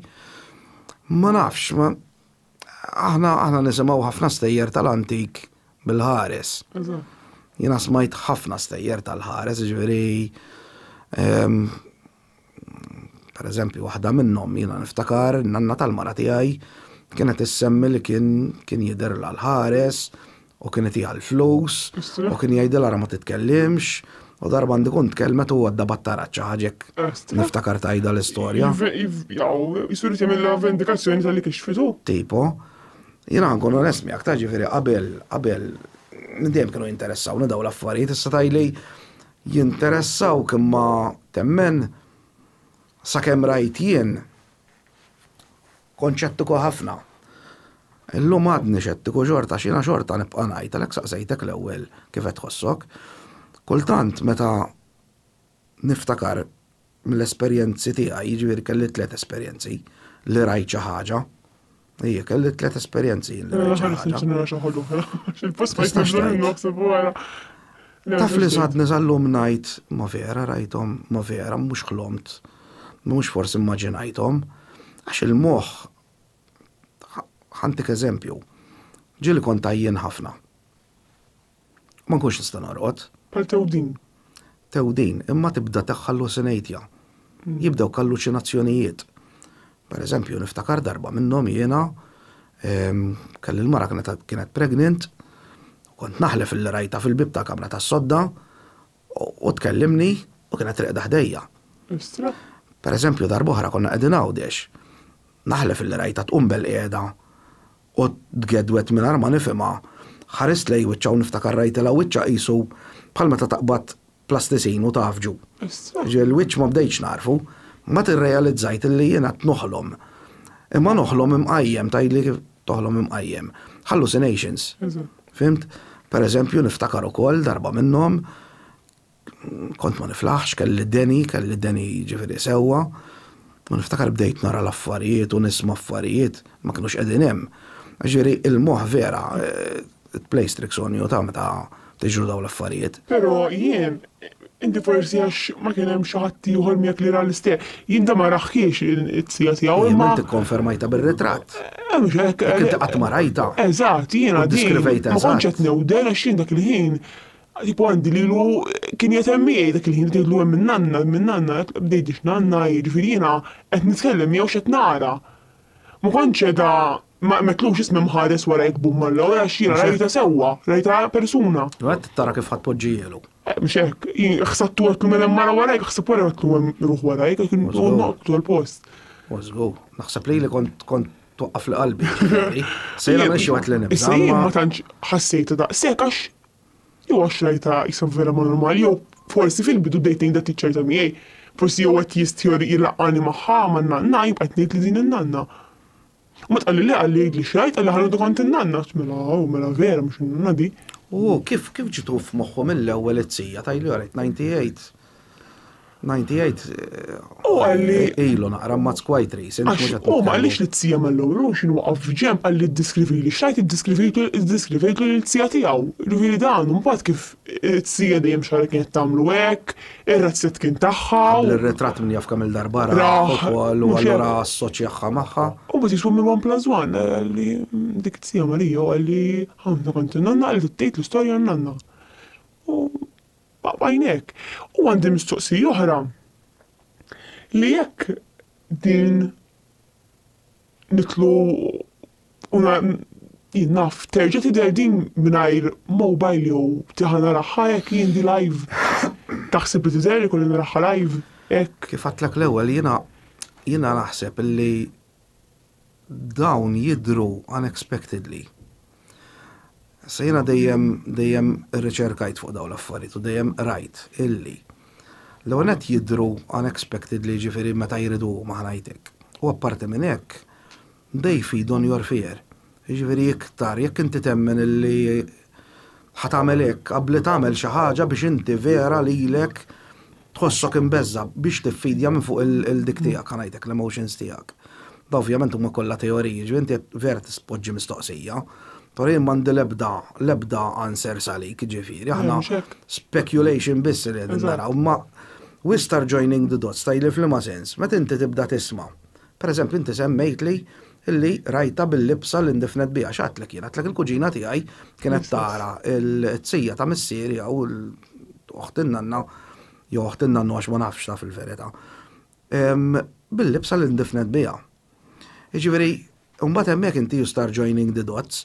Ma nafx, ma. Aħna aħna nisimgħu ħafna stejjer tal-antik bil-ħares. Jiena smajt ħafna stejjer tal-ħares, ġifieri ehm, per eżempju waħda minnhom jiena niftakar nanna tal-mara tiegħi kienet issemmi li kien kien jidher l-ħares u kien itiha l-flus, u kien jgħidilha ara ma titkellimx, u darba għandi kont tkellmet u għadda battaraċċa ħaġek. Niftakar tajda l-istorja. Jisur jagħmilha vendikazzjoni tal-li kixfitu. Tipo, jiena nkun onest miegħek ta' ġifieri qabel qabel dejjem kienu jinteressawni daw l-affarijiet issa tajli jinteressaw kemm ma temmen sakemm rajt jien Kont xettiku ħafna. Illum għadni xettiku xorta għax jiena xorta nibqa' ngħid, għalhekk saqsejtek l-ewwel kif qed tħossok. Kultant meta niftakar mill-esperjenzi tiegħi, jiġifieri kelli tliet esperjenzi li rajt xi ħaġa, Ejja, kelli tliet esperjenzi li rajt xi ħaġa. Taf li sadni sal-lum ngħid ma vera rajthom, ma vera mhux ħlomt, mhux forsi immaġinajthom, għax il-moħħ ħantik eżempju, ġieli kont tajjien ħafna. Ma nkunx nista' norqod. Pal tewdin. Tewdin, imma tibda teħħallusinejtja. Hmm. Jibdew kalluċinazzjonijiet. Per eżempju, niftakar darba minnhom jiena kelli l-mara kienet pregnant, kont naħlef li rajta fil-bib ta' kamra ta' sodda u tkellimni u kienet reqda ħdejja. Per eżempju, darba oħra konna qegħdin għawdex, naħlef li rajta tqum bel qiegħda u tgedwet mingħajr ma nifhimha, ħarist lej wiċċa u niftakar rajtilha wiċċa qisu bħal meta taqbad plasticine u tgħaffġu. Ġieli l-wiċċ ma bdejtx nagħrfu, mbagħad irrealizzajt illi jien qed noħlom. Imma noħlom imqajjem, tgħidli kif toħlom imqajjem. Hallucinations. Fhimt? Per eżempju, niftakar ukoll darba minnhom kont ma niflaħx, kelli deni, kelli deni ġifieri sewwa, u niftakar bdejt nara l-affarijiet u nisma' affarijiet ma kinux qegħdin hemm. Ġieli il-moħħ vera eh, It-place tricks on you ta' meta tiġru dawn l-affarijiet. Pero jien, inti forsi għax ma kien hemm xi ħadd ieħor miegħek li ra l-istess, jien dan ma raħħiex it-sija tiegħu imma. Jien ikkonfermajtha bir-ritratt. Eh mhux hekk. Jekk inti qatt ma rajtha. Eżatt, jiena din ma kontx qed newden għax jien dak il-ħin Tipo għandi li lu kien jatem miegħi dak il-ħin li lu minn nanna, minn nanna, bdejtix nanna, jiġifieri jiena qed nitkellem miegħu x'qed nara. Ma kontx qiegħda Ma metlux ismi mħares warajk bum Alla, wara x-xira rajta sewwa, rajta persuna. Għedt tara kif ħadd poġġijielu. Eh, mhux hekk, ħsabtu għetlu minn hemm mara warajk, ħsab wara għetlu hemm ruħ warajk, kien noqtu l-post. Użgu, naħseb li li kont kont twaqqaf li qalbi. Sejra minn xi waqt li nibda. Issa jien ma tantx ħassejta daqshekk għax jew għax rajta jisab vera ma normali jew forsi fil-bidu dejtejn da tiċċajta miegħi. Forsi jew qed jistjor jilaqani magħha ma' nanna jibqa' tnejt li din in-nanna. U meta qalli le, qalli għidli x'għidt, qalli ħa ngħidu kont in-nanna. Għedt mela oh, mela vera mhux in-nanna di. U hu kif, kif ġietlu f'moħħu mill-ewwel it-sija ta' ilu għalhekk 98 98 U qalli ilu naqra mazz quite recent. Għax hu ma qalix li t-sija mal-ewwel hu xi nwaqaf f'ġenb qalli ddiskrivili x'għidt iddiskrivejtlu iddiskrivejtlu lill-sija tiegħu. Jiġifieri dan u mbagħad kif it-sija dejjem x'ħarġ kienet tagħmlu hekk, Ir-razzett kien tagħha. Qabel ir-ritratt min jaf kemm-il darba ra ukoll u allura assoċjaha magħha. U biex iswim il-one plus one li dik it-tija Marija u li għandha kont in-nanna li tgħid l-istorja għan-nanna. U bajnek. U għandi mistoqsija oħra li jekk din nidħlu u jien naf terġa' tidher din mingħajr mobile jew tieħa naraha hekk jien di live taħseb li tidher ikolli naraha live hekk? Kif għadtlek l-ewwel jiena jiena naħseb li dawn jidhru unexpectedly. Issa jiena dejjem dejjem riċerkajt fuq dawn l-affarijiet u dejjem rajt illi l-ewwel qed jidru unexpected li ġifieri meta jridu huma ħnajtek. U apparti minn hekk, they feed on your fear. Ġifieri iktar jekk inti temmen illi ħatamel hekk, qabli tagħmel xi ħaġa biex inti vera lilek Tħossok imbeżża' biex tiffidja minn fuq il-dik tiegħek, ħa ngħidlek, l-emotions tiegħek. Dawn ovvjament huma kollha teoriji, jiġifieri inti qed vera tpoġġi mistoqsija, però jien m'għandi l-ebda, l-ebda answers għalik, jiġifieri aħna speculation biss li qegħdin naraw. Imma we start joining the dots, tgħidli f'liema sens, meta inti tibda tisma' Pereżempju, inti semmejtli li rajtha bil-libsa li ndifnet biha. X'għadtlek jien? Għadtlek il-kuġina tiegħi kienet tara l-qtzija ta' missieri jew oħt in-nanna jew oħt in-nannu għax ma nafx taf il-verità. Bil-libsa li ndifnet biha. Jiġifieri, mbagħad hemmhekk inti you start joining the dots.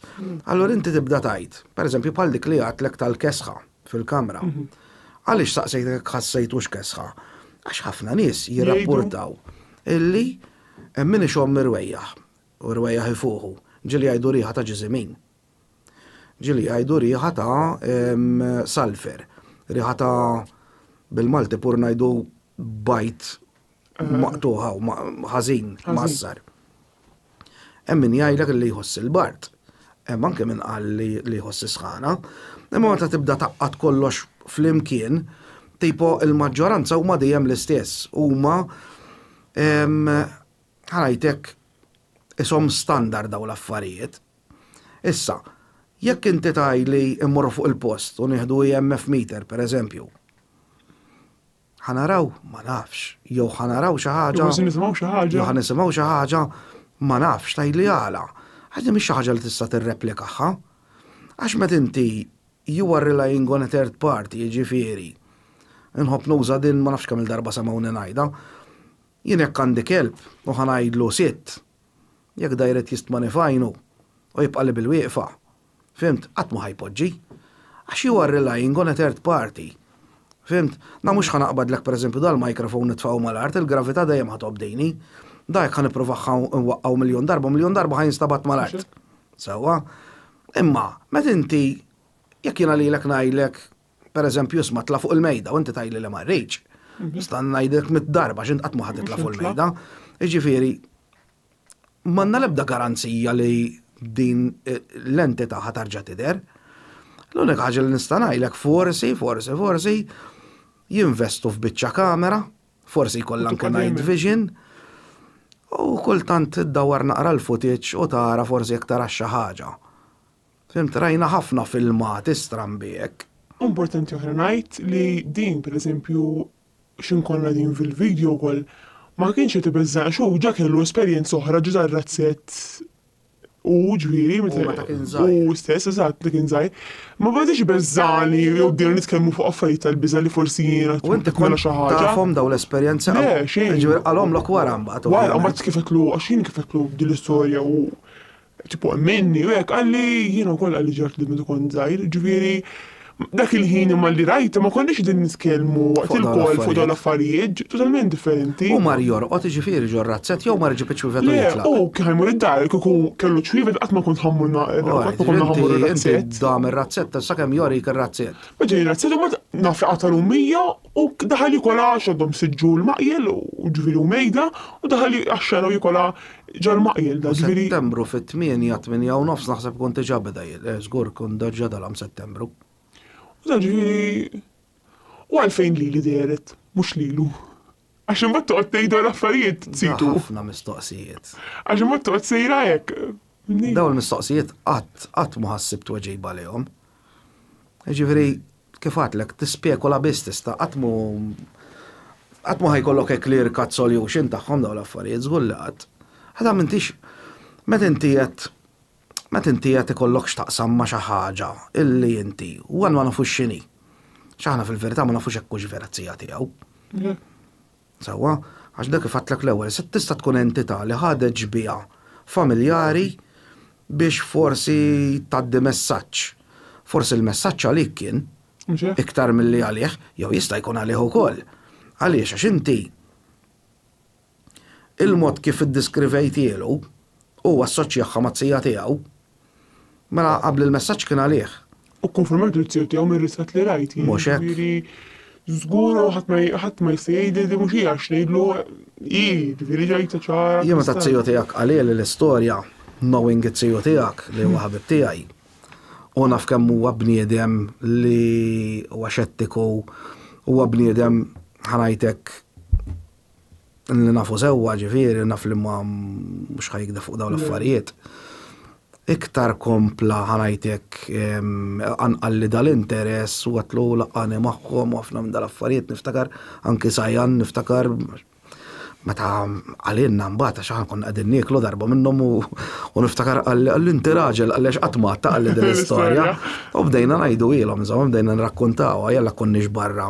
Allura inti tibda tgħid, pereżempju bħal dik li għadtlek tal-kesħa. fil-kamra. Mhm. Għaliex saqsejt jekk ħassejt u xkesħa? Għax ħafna nies jirrapportaw illi hemm min ixomm irwejjaħ u rwejjaħ ifuħu ġili għajdu riħa ta' ġizimin. Ġili għajdu riħa ta' salfer, riħa ta' bil-Malti pur najdu bajt maqtuħa u ħażin massar. Hemm min jgħidlek li jħoss il-bart. Hemm anke min qal li jħoss is-sħana. Imma meta tibda taqqat kollox flimkien, tipo il-maġġoranza huma dejjem l-istess. Huma ħajtek isom standard daw l-affarijiet. Issa, jekk inti taj li immorru fuq il-post u nieħdu IMF e meter, per eżempju, Ħa naraw? Ma nafx. Jew ħa naraw xi ħaġa. Jew ħa nisimgħu xi ħaġa. Jew ħa nisimgħu xi ħaġa. Ma nafx, tgħidli għala. Għax din mhix xi ħaġa li tista' tirreplikaha. Għax meta inti you are relying on a third party, jiġifieri, inħobb nuża din ma nafx kemm il-darba semgħuni ngħidha, jien jekk għandi kelb u ħa ngħidlu sitt, jekk da jrid jistmani fajnu u jibqa' li bil-wieqfa, Fhimt? Qatt ma ħa jpoġġi. Għax you are relying on a third party. Fhimt? Na mhux ħa naqbadlek pereżempju dal-microphone nitfagħu mal-art, il-gravità dejjem ħa tobdini. Da jekk ħa nippruvah nwaqqgħu miljun darba, miljun darba ħa jinstabat mal-art. Sewwa? Imma, meta inti jekk jiena lilek ngħidlek, pereżempju isma' tla' fuq il-mejda u inti tgħidli le ma rridx, nista' ngħidlek mit-darba x'int qatt ma ħa titla' fuq il-mejda. Jiġifieri, m'għandna l-ebda garanzija li din l-entità ħa tarġa' tidher. L-unika ħaġa li nista' ngħidlek forsi, forsi, forsi jinvestu f'biċċa kamera, forsi jkollha anke night vision, u kultant iddawwar naqra l-footage u tara forsi jekk tarax xi ħaġa. Fhimt, rajna ħafna filmati strambi hekk. Importanti oħra ngħid li din, pereżempju, X'inkollna qegħdin fil-video wkoll ma kienx qed ibeżża' għax hu ġa kellu esperjenza oħra ġa żar razzett hu ġifieri meta Hu meta kien hu żgħir. stess eżatt meta kien żgħir. Ma badiex ibeżżagħni jew bdejna nitkellmu fuq affarijiet tal-biża' li forsi jiena U inti tħobbni nagħmel kont xi ħaġa. tafhom dawn l-esperjenzi Le, qabel? xejn. Jiġifieri qalhomlok wara mbagħad u Wara, għalhom. mbagħad kif qedtlu għax jien kif qedtlu din l-istorja u Tipo minni u hekk qalli jiena wkoll qalli xi ħaġa meta kont żgħir, ġifieri dak il-ħin imma li rajta ma konniex qegħdin nitkellmu waqt il-kol fuq dawn l-affarijiet ġi totalment differenti. U mar jorqod iġifieri ġo razzett jew mar iġib iċ-ċwievet u jitlaq. Le, u kien ħajmur id-dar kieku kellu ċwievet qatt ma kont ħammur qatt ma konna ħammur ir-razzett. Dam ir-razzett sakemm jorik ir-razzett. Beda jirrazzett u mbagħad naf li qata' l-ummija U daħal jikol għax għadhom sitt ġul maqjel, u ġifieri u mejda, u daħal għax-xena u jikol għa ġal maqjel da ġifieri. Settembru fit-tmienja, tmienja u nofs naħseb ikun diġà beda jil, eh, żgur ikun diġà dalgħam Settembru. U da ġifieri u għalfejn lili dehret, mhux lilu. Għax imbagħad toqgħod tgħidu l-affarijiet tsitu. Ħafna mistoqsijiet. Għax imbagħad toqgħod sejra hekk. Dawn il-mistoqsijiet qatt qatt ma ħassib tweġiba lihom. Ġifieri Kif għadtlek, tispekula biss tista', qatt mhu qatt mhu ħa jkollok a clear cut solution tagħhom dawn l-affarijiet, żgur li qatt. Għada m'intix meta inti qed meta inti qed ikollok x'taqsam ma' xi ħaġa illi inti u għad ma nafux x'inhi. X'aħna fil-verità ma nafux hekk hux vera t-tija tiegħu. Sewwa, għax dak kif għedtlek l-ewwel, se tista' tkun entità li ħadet xbieha familjari biex forsi tgħaddi messaġġ. Forsi l-messaġġ għalik kien iktar milli għalih, jew jista' jkun għalih ukoll. Għaliex għax inti il-mod kif iddiskrivejtielu u assoċjahha mat-tija tiegħu, Mela qabli l-messaġġ kien għalih. U kkonformajt il-ksir tiegħu mir-ritratt li rajt jien. Mhux hekk. Jiġifieri żgur ħadd ma ħadd ma jista' jgħidli li din mhux hi għax ngħidlu hi, jiġifieri ġajtha ċara. Jien meta t-tiju tiegħek qalili l-istorja, knowing it-tiju tiegħek li huwa ħabib tiegħi, u naf kemm huwa bniedem li huwa xettiku, huwa bniedem ħa ngħidlek li nafu sewwa ġifieri naf li ma mhux ħajkda fuq dawn l-affarijiet. Iktar kompla ħanajtek anqal li dal-interess u għatlu laqani magħhom u ħafna minn dal-affarijiet niftakar anki sajan niftakar meta għalinna mbagħad għax aħna konna qegħdin nieklu darba minnhom u niftakar għalli inti raġel għaliex qatt ma taqli din l-istorja. U bdejna ngħidu ilhom, bdejna nrakkuntaw, jalla konniex barra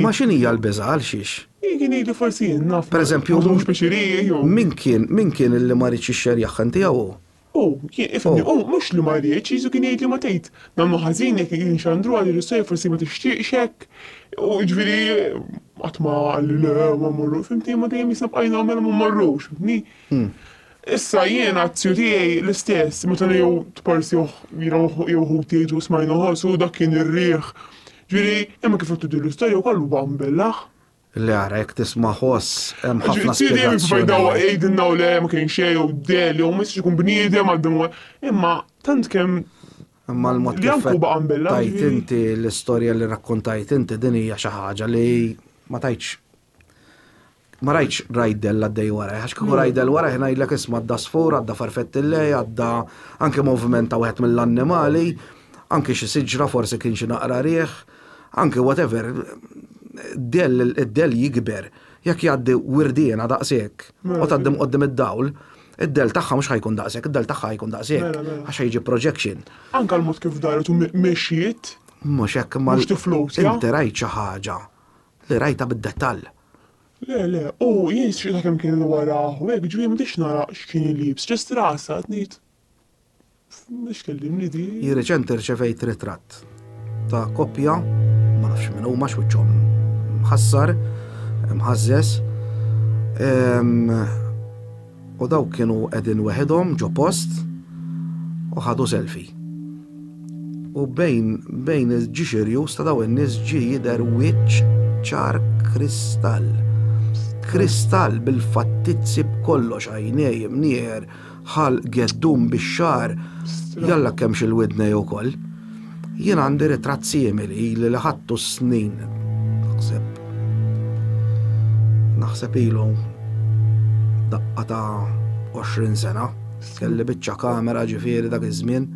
Imma x'inhi hija l-biża' għalxiex? Pereżempju, min kien, min kien illi ma riedx jixxerjagħha tiegħu hu? Hu, kien, ifhimni, hu, mhux li ma riedx, Ġesù kien jgħidli ma tgħid, nagħmlu ħażin jekk qegħdin inxandru għal ir-russejjer forsi ma tixtieqx hekk, u jiġifieri qatt ma qalli le ma mmorrux, fimtni, imma dejjem jisna bqajna u mela ma mmorrux, fimtni? Issa jien għat-tiju tiegħi l-istess, meta jew tparsih jiena jew ħuti jgħidu smajna ħoss u dak kien ir-riħ Ġifieri, imma kif qed tidhirlu l-istorja wkoll huwa mbellaħ. Le ara, jekk tisma' ħoss hemm ħafna spjegazzjonijiet. Ġifieri, Sidi Mifida jgħidilna u le ma kien xejn jew de li hu ma jistax ikun bniedem għal dan huwa. Imma tant kemm Imma l-mod kif Janku baqa' mbellaħ. Tajt inti l-istorja li rakkontajt inti din hija xi ħaġa li ma tajtx Ma rajtx rajdel għaddej waraj, għax kieku rajdel waraj ngħidlek isma' għadda sfur, għadda farfetti lej, għadda anke moviment ta' wieħed mill-annimali, anke xi siġra forsi kien xi naqra rieħ, anke whatever, id-del jikber, jekk jgħaddi wirdiena daqshekk, u tgħaddim qoddim id-dawl, id-del tagħha mhux ħajkun daqshekk, id-del tagħha ħajkun daqshekk, mela, mela. għax ħajġi projection. Anka l-mod kif daret u mexjiet. Mhux hekk ma. Mhux tiflus. Inti rajt xi ħaġa li rajtha bid-dettall. Le, le, u jien sċieta kemm kien il-warah u hekk ġieli m'għdix nara x'kien iliebs, ġest rasha qed ngħid, M'għadx kellimni di. Jien reċenti rċevejt ritratt ta' koppja, ma nafx min huma għax wiċċhom mħassar, imħażżeż, U dawk kienu qegħdin weħidhom ġo post u ħadu selfie. U bejn bejn il-ġixirju sta daw in-nies ġie jidher wiċċ ċar kristall. Kristall bil-fattizzi b'kollox għajnej imnieħer ħal geddum bix-xar jalla kemm xil-widnej ukoll. Jien għandi ritratt simili li li ħadtu s-snin naħseb. Naħseb ilu daqqa ta' 20 sena. Kelli biċċa kamera ġifieri dak iż-żmien.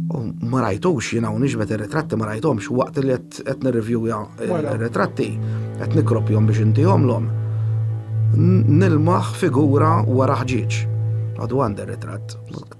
U ma rajtux jien hawn iġbed ir-ritratti ma rajthomx waqt li qed nirrivjuja r-ritratti qed nikropjhom biex intihomlhom. Nilmaħ figura wara ħġieġ. Għadu għandi r-ritratt.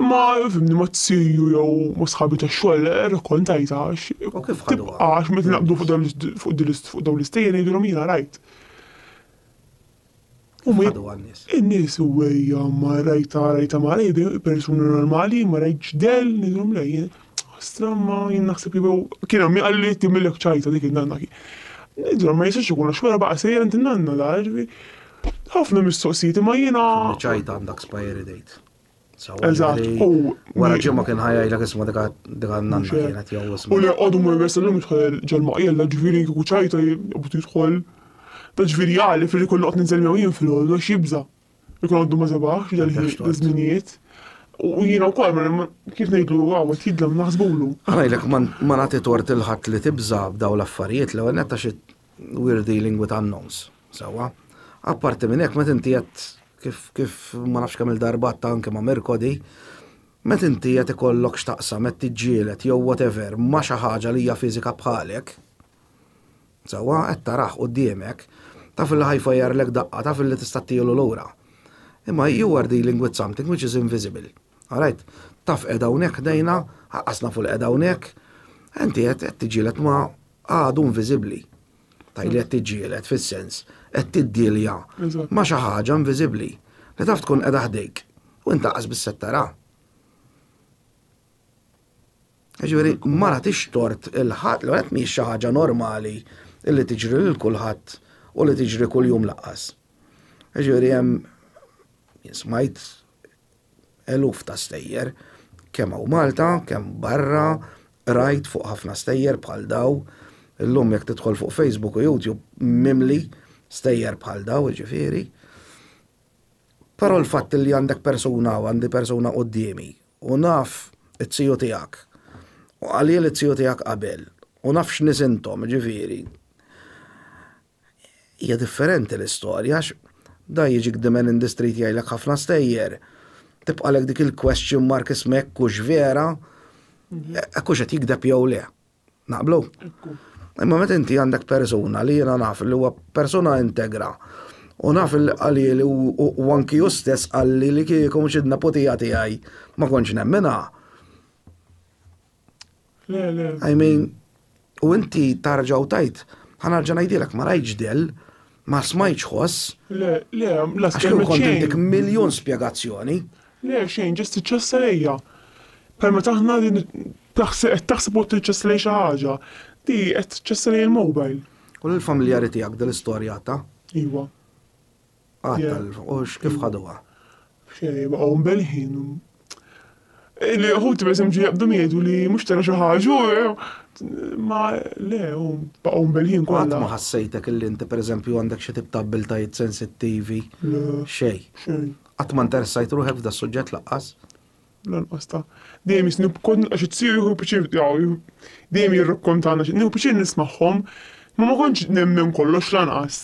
Imma fimni ma t-siju jew ma sħabi ta' xogħol rrakkontajtha għax tibqa' għax meta naqbdu fuq dawn fuq dawn l-istejjer ngħidulhom jiena rajt. U ma jibqa' n-nies. In-nies u ejja ma rajtha rajtha ma rajtha persuna normali ma rajtx dell ngħidulhom le jien stramma jien naħseb li jew kien hemm min qalli tgħimillek ċajta dik in-nanna kien. Ngħidulhom ma jistax ikun għax wara baqa' sejjer għand in-nanna la ħafna mistoqsijiet imma jiena. Ċajta għandha expiry date. Eżatt, u. Wara ġimma kien ħajaj l isma dika dika nanna kienet jew isma. U li għodu ma jmessa l-lum jitħol ġelma jella ġviri kiku ċajta jibut jitħol. Ta ġviri għali fil kollu għot ninżel jew jien fil-ħol, għax jibza. Ikun għoddu ma zabax, dal-żminijiet. U jina u kol, mela, kif nejdu għawet jidlam naħsbulu. Għajlek ma nati tort il-ħat li tibza b'daw l-affarijiet, l-għenetta xie We're dealing with unknowns, sewwa. Apparti minn hekk, meta inti qed kif kif ma nafx kemm il-darba ta' anke ma' Merkodi, meta inti qed ikollok x'taqsam qed tiġġieled jew whatever ma' xi ħaġa li hija fiżika bħalek, sewwa qed tarah quddiemek, taf li ħajfajjarlek daqqa, taf li tista' ttielu lura. Imma you are dealing with something which is invisible. Alright? Taf qed hawnhekk ħdejna, ħaqqas nafu li qed hawnhekk, inti qed tiġġieled ma' għadu inviżibbli. Tajli qed tiġġieled fis-sens qed tiddielja ma' xi ħaġa inviżibbli li taf tkun qiegħda ħdejk u inta qas biss qed tara. Ġifieri ma nagħtix tort il-ħadd li qed mhix xi ħaġa normali li tiġri lil kulħadd u li tiġri kuljum laqqas. Ġifieri hemm smajt eluf ta' stejjer, kemm hawn Malta, kemm barra, qrajt fuq ħafna stejjer bħal daw, illum jekk tidħol fuq Facebook u YouTube mimli stejjer bħal daw, ġifieri. Però l-fatt li għandek persuna u għandi persuna qudiemi u naf it-tiju tiegħek u għalil it-tiju tiegħek qabel u naf x'nisintom, ġifieri. Hija differenti l-istorja għax dan jiġi kdimen in the street jgħidlek ħafna stejjer. Tibqalek dik il-question mark isma' jekk hux vera, jekk hux qed jikdeb jew le. Naqblu? Imma meta inti għandek persuna li jiena naf li huwa persuna integra u naf li qalli li u anki hu stess qalli li kieku mhux id-neputija tiegħi ma kontx nemminha. Le, le. I mean, u inti tarġaw tajt, ħanarġa ngħidilek ma rajtx del, ma smajtx ħoss. Le, le, la skemmet xejn. Kontintik miljon spjegazzjoni. Le, xejn, ġest iċċessa lejja. Per ma taħna din taħseb taħseb u tiċċessa lej xi ħaġa. Di qed tiċċessa lej il-mobile. U l-familjari tiegħek din l-istorja ta'? Iva. Għattal, u x'kif ħaduha? Xejn, baqgħu mbelħin. Li ħuti per eżempju jaqbdu jgħidu li mhux tara xi ħaġa, ma le, u baqgħu mbelħin kollha. Qatt ma ħassejtek illi inti per eżempju għandek xi tip ta' abbiltajiet sensittivi? Xejn. Qatt ma interessajt ruħek f'da suġġett laqqas? Lanqas ta. Dejjem jisnu b'kont nilqa' xi tziju jieħu pjaċir dejjem jirrakkontana xi nieħu pjaċir nismagħhom. Ma ma kontx nemmen kollox lanqas.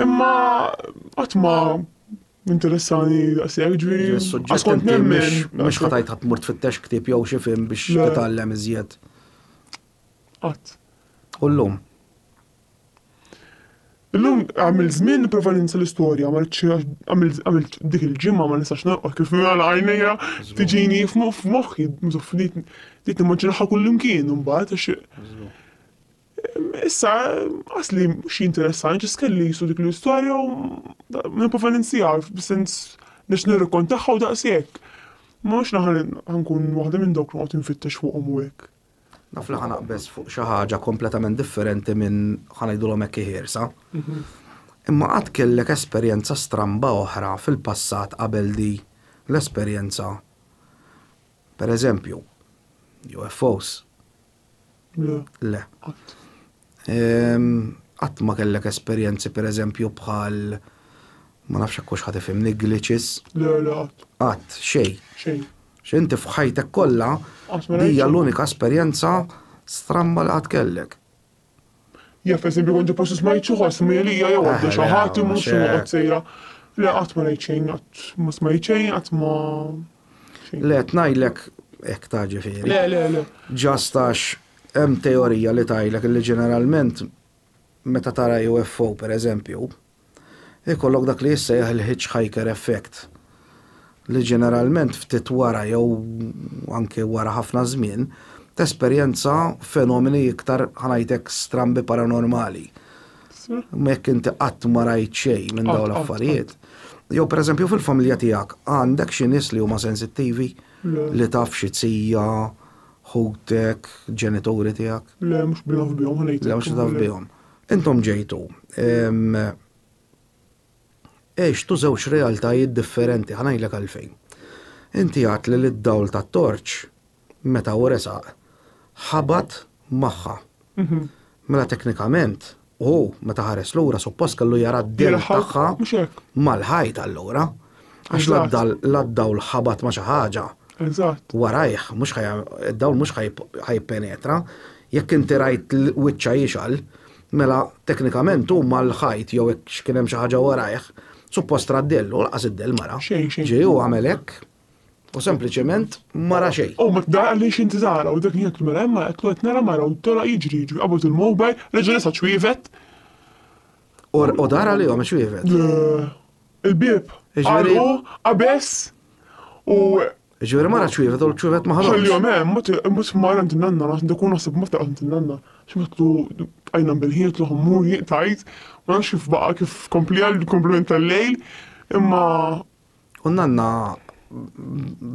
Imma qatt ma interessani daqshekk ġifieri. Għax kont nemmen. Mhux ħatajt ħadd mur tfittex ktieb jew xi film biex titgħallem iżjed. Qatt. U llum? Illum għamil żmien nipprova ninsa l-istorja, ma rridx għamilt dik il-ġimgħa ma nistax norqod kif nagħlaq għajnejja tiġini f'moħħi mżufnit bdiet nimmaġinaha kullimkien imbagħad għax issa qasli mhux jinteressani ġast kelli qisu dik l-istorja u nipprova ninsiha b'sens biex nirrakkontaha u daqshekk. Mhux li ħa nkun waħda minn dawk li noqgħod infittex fuqhom u hekk. Naf li ħanaqbeż fuq xi ħaġa kompletament differenti minn ħanajdulhom hekk ħiersa. Imma qatt kellek esperjenza stramba oħra fil-passat qabel di l-esperjenza? Per eżempju, UFOs? Le. Le. Qatt ma kellek esperjenzi pereżempju bħal ma nafx hekk hux ħadd ifhimni glitches? Le, le qatt. Qatt, xejn. Xejn. X'inti f'ħajtek kollha hija l-unika esperjenza stramba li qatt kellek. Jaf eżempju kont post smajt xi ħoss mgħelija jew għadda xi ħadd imur xi noqgħod sejra. Le qatt ma rajt xejn, qatt ma smajt xejn, qatt ma. Le, tnajlek ek ta' ġifiri. Le, le, le. Ġastax, hemm teorija li tajlek li ġeneralment meta tara UFO per eżempju, ikollok dak li jissejjaħ il-hitchhiker effect li ġeneralment ftit wara jew anke wara ħafna żmien tesperjenza fenomeni iktar ħanajtek strambi paranormali. Mek inti qatt ma rajt xejn minn dawn l-affarijiet. Jew pereżempju fil-familja tiegħek għandek xi nies li huma sensittivi li taf xi tija, ħutek, ġenituri tiegħek. Le, mhux bnaf bihom ħanejt. Le, mhux bnaf bihom. Intom ġejtu. Għextu żewġ realtajiet differenti, ħa ngħidlek għalfejn. Inti għedt li d-dawl tat-torċ, meta hu resaq, ħabat magħha. Mela teknikament, hu meta ħares lura suppost kellu jara d-dell tagħha mal-ħajt allura. Għax la d-dawl ħabat ma' xi ħaġa. Warajh, id-dawl mhux ħajpenetra. Jekk inti rajt wiċċha jixgħal, Mela, teknikament hu mal-ħajt jew hekk x'kien hemm xi ħaġa warajh, suppost ra d-dell u laqas id-dell ma ra. Ġie u għamel hekk u sempliċement ma ra xejn. U ma tdara għaliex inti tara u dak li qed mela hemm ma qed qed nara mara u tolgħaq jiġri jiġri qabad il-mobile reġa' resa' ċwievet. U dara li għamel ċwievet? Le. Il-bieb. Għalqu, qabeż u Ġifieri mara ċwivet u l-ċwivet ma ħadhomx. Ħallihom hemm, mhux mara għand in-nanna, naħseb dak ikun naħseb meta għand in-nanna. X'matlu bqajna nbelħin qed loħom mur jien tajt, ma nafx kif baqa' kif kompli għal komplement tal-lejl, imma. U n-nanna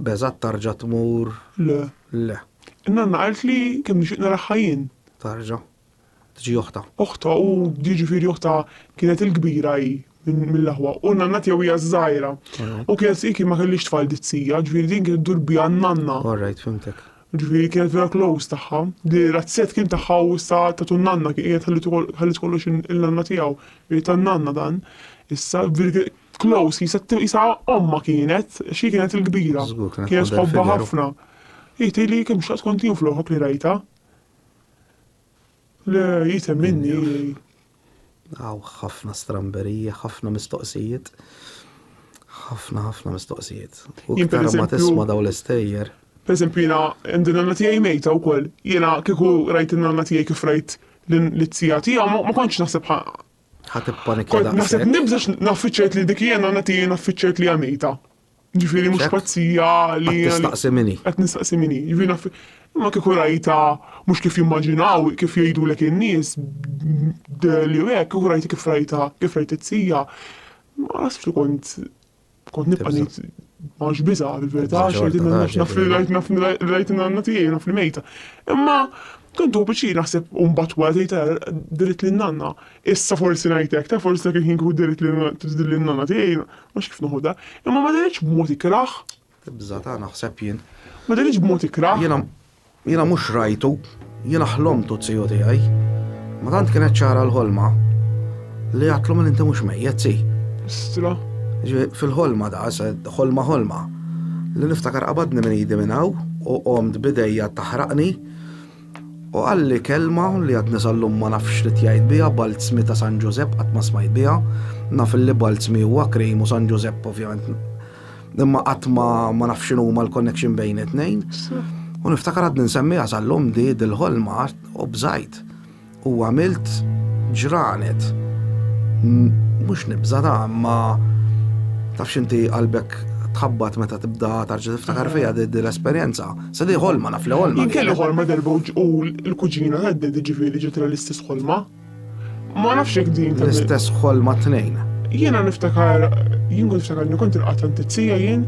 beżat tarġa' tmur? Le. Le. In-nanna qalt li kemm nixtieq naraħħa jien. Tarġa'. tġi oħtha. Oħtha u jiġifieri oħtha kienet il-kbira hi mill-aħwa u n-nanna tiegħu hija ż-żgħira. U kienet hi kien ma kellhiex tfal dizzija, ġifieri din kienet iddur biha n-nanna. All right, fhimtek. Ġifieri kienet vera close tagħha. Li razzett kien tagħha u issa tatu n-nanna kien qiegħed ħalliet kollox il-nanna tiegħu. Ġifieri tan-nanna dan. Issa close jisa jisa omma kienet, xi kienet il-kbira. Kienet ħobba ħafna. Hi tgħidli kemm xaqt kont jien fl-oħok li rajta. Le, jitem minni. Hawn ħafna stramberija, ħafna mistoqsijiet. Ħafna ħafna mistoqsijiet. U iktar ma tisma' daw l-istejjer. Per eżempju jiena għandi nanna tiegħi mejta wkoll. Jiena kieku rajt in-nanna tiegħi kif rajt l-tija tiegħu ma kontx naħseb ħa. Ħa tippanikja daqshekk. Naħseb nibżax naffiċċajt li dik hija nanna tiegħi naffiċċajt li hija mejta. Ġifiri mux pazzija li. Qed nistaqsi mini. Qed nistaqsi mini. Ġifiri naf. Ma kiku rajta mux kif jimmaġinaw, kif jgħidu l in-nies, li u hekk, kiku rajta kif rajta, kif rajta t-sija. Ma nasibx li kont kont nibqa' ngħid ma nx biża' fil-verità, naf li rajt naf li rajt in-nanna tiegħi, naf li mejta. Imma kont hu biċċi naħseb u mbagħad wara tgħid ara diriet lin-nanna. Issa forsi ngħid hekk, ta' forsi dak il-ħin kieku diriet lin-nanna tiegħi, Mhux kif noħodha. Imma ma daritx b'mod ikrah. Tibża' ta' naħseb jien. Ma daritx b'mod ikrah. Jiena jiena mhux rajtu, jiena ħlomtu t-tiju tiegħi. Ma tant kienet ċara l-ħolma li għatlu minn inti mhux mejjet si. Istra. Fil-ħolma da, ħolma ħolma. Li niftakar qabadni minn idi minn hawn u qomt bidejja taħraqni. U qalli kelma li għadni sal-lum ma nafx x'rid jgħid biha, Balzmi ta' San Ġużepp qatt ma smajt biha. Naf illi Balzmi huwa cream u San Ġużepp ovvjament imma qatt ma ma nafx x'inhuma l-connection bejn it-tnejn. U niftakar għadni nsemmiha sal-lum di dil-ħolma u bżajt. U għamilt ġranet. Mhux nibża ta' ma tafx inti qalbek tħabbat meta tibda tarġa tiftakar fija di l-esperjenza. Se di ħolma naf li ħolma. Kelli ħolma darba u l-kuġina għaddi diġifieri ġiet l-istess ħolma. Ma nafx jekk din. L-istess ħolma tnejn. Jiena niftakar, jien kont niftakar li kont il-qatta ntizzija jien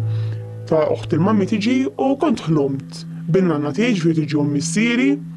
ta' uħt il-mammi tiġi u kont ħlomt. Bin-nanna tiġi ġifieri tiġi missieri.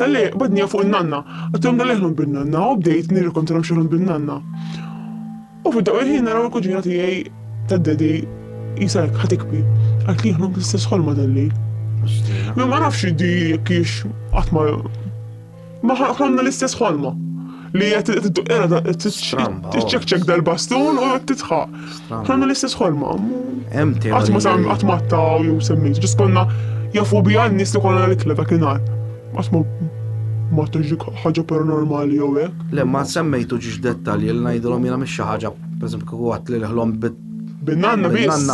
Dalli badnija fuq in-nanna, għattihom dalli ħlum bin-nanna u bdejt nirrikontrhom xi ħlum bin-nanna. U fid-daw il-ħin naraw il-kuġina tiegħi tad-dedi jisa hekk ħatikbi. Għalt li ħlum l-istess ħolma dalli. Ma nafx di kiex qatt ma ma ħlomna l-istess ħolma. li jgħet t-ċekċek dal-bastun u jgħet titħaq. Għanna l-istess ħolma. Għatma sam għatmatta u jew semmejt, ġis konna jafu bi għan nis li konna l-ikla dak inar. Għatma ma tuġi ħagġa paranormali jew hekk. Le ma semmejtu ġiex dettalji li ngħidulhom jiena mhix xi ħaġa, pereżempju kieku għat li ħlom bin-nanna biss.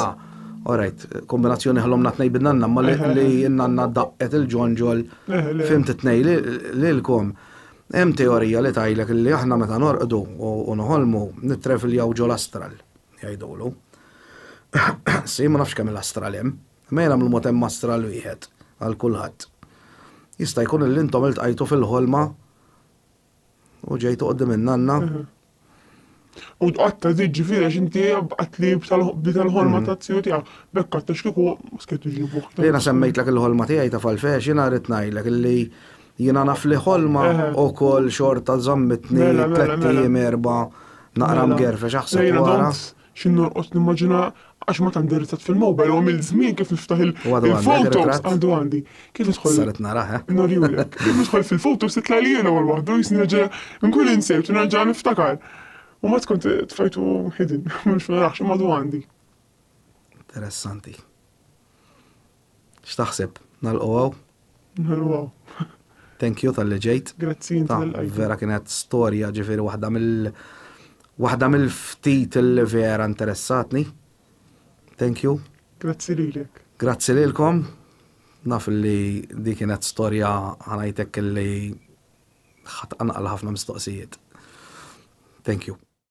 Alright, kombinazzjoni ħlom natnej bin-nanna, ma li n-nanna daqqet il-ġonġol fim t-tnej li l-kom. Hemm teorija li tgħidlek li aħna meta norqdu u noħolmu nittrevljaw ġol-astral, jgħidulu. Sim, ma nafx kemm il-astral hemm, imma jiena mill-mod hemm astral wieħed għal kulħadd. Jista' jkun li intom iltqajtu fil-ħolma u ġejtu qudiem in-nanna U tqatta żid ġifieri għax inti qattli bi tal-ħolma ta' zio tiegħek. B'hekk qatta x'kieku skett iġibu. Jiena semmejtlek il-ħolma tiegħi ta' falfex, jiena rrid ngħidlek illi jiena naf li ħolma wkoll xorta żammitni tliet ijiem erba' naqra mgerfex aħseb wara. Xi norqod nimmaġina għax ma tant derizzat fil-mobile u għamil żmien kif niftaħ il-photos għadu għandi. Kif idħol? Saret naraħ. Eh? Norjulek. Kif idħol fil-photos titla' li jiena wal waħdu jisni nerġa' nkun insejt u nerġa' niftakar. U ma tkun tfajtu hidden, mhux narax, ma għandu għandi. Interessanti. X'taħseb? Nagħlqu hawn? Nagħlqu hawn. Thank you tal-li ġejt. Grazzi inti tal-qajt. Vera kienet storja ġifieri waħda mill waħda mill-ftit li vera interessatni. Thank you. Grazzi lilek. Grazzi lilkom. Naf li di kienet storja ħanajtek li ħatqanqal ħafna mistoqsijiet. Thank you.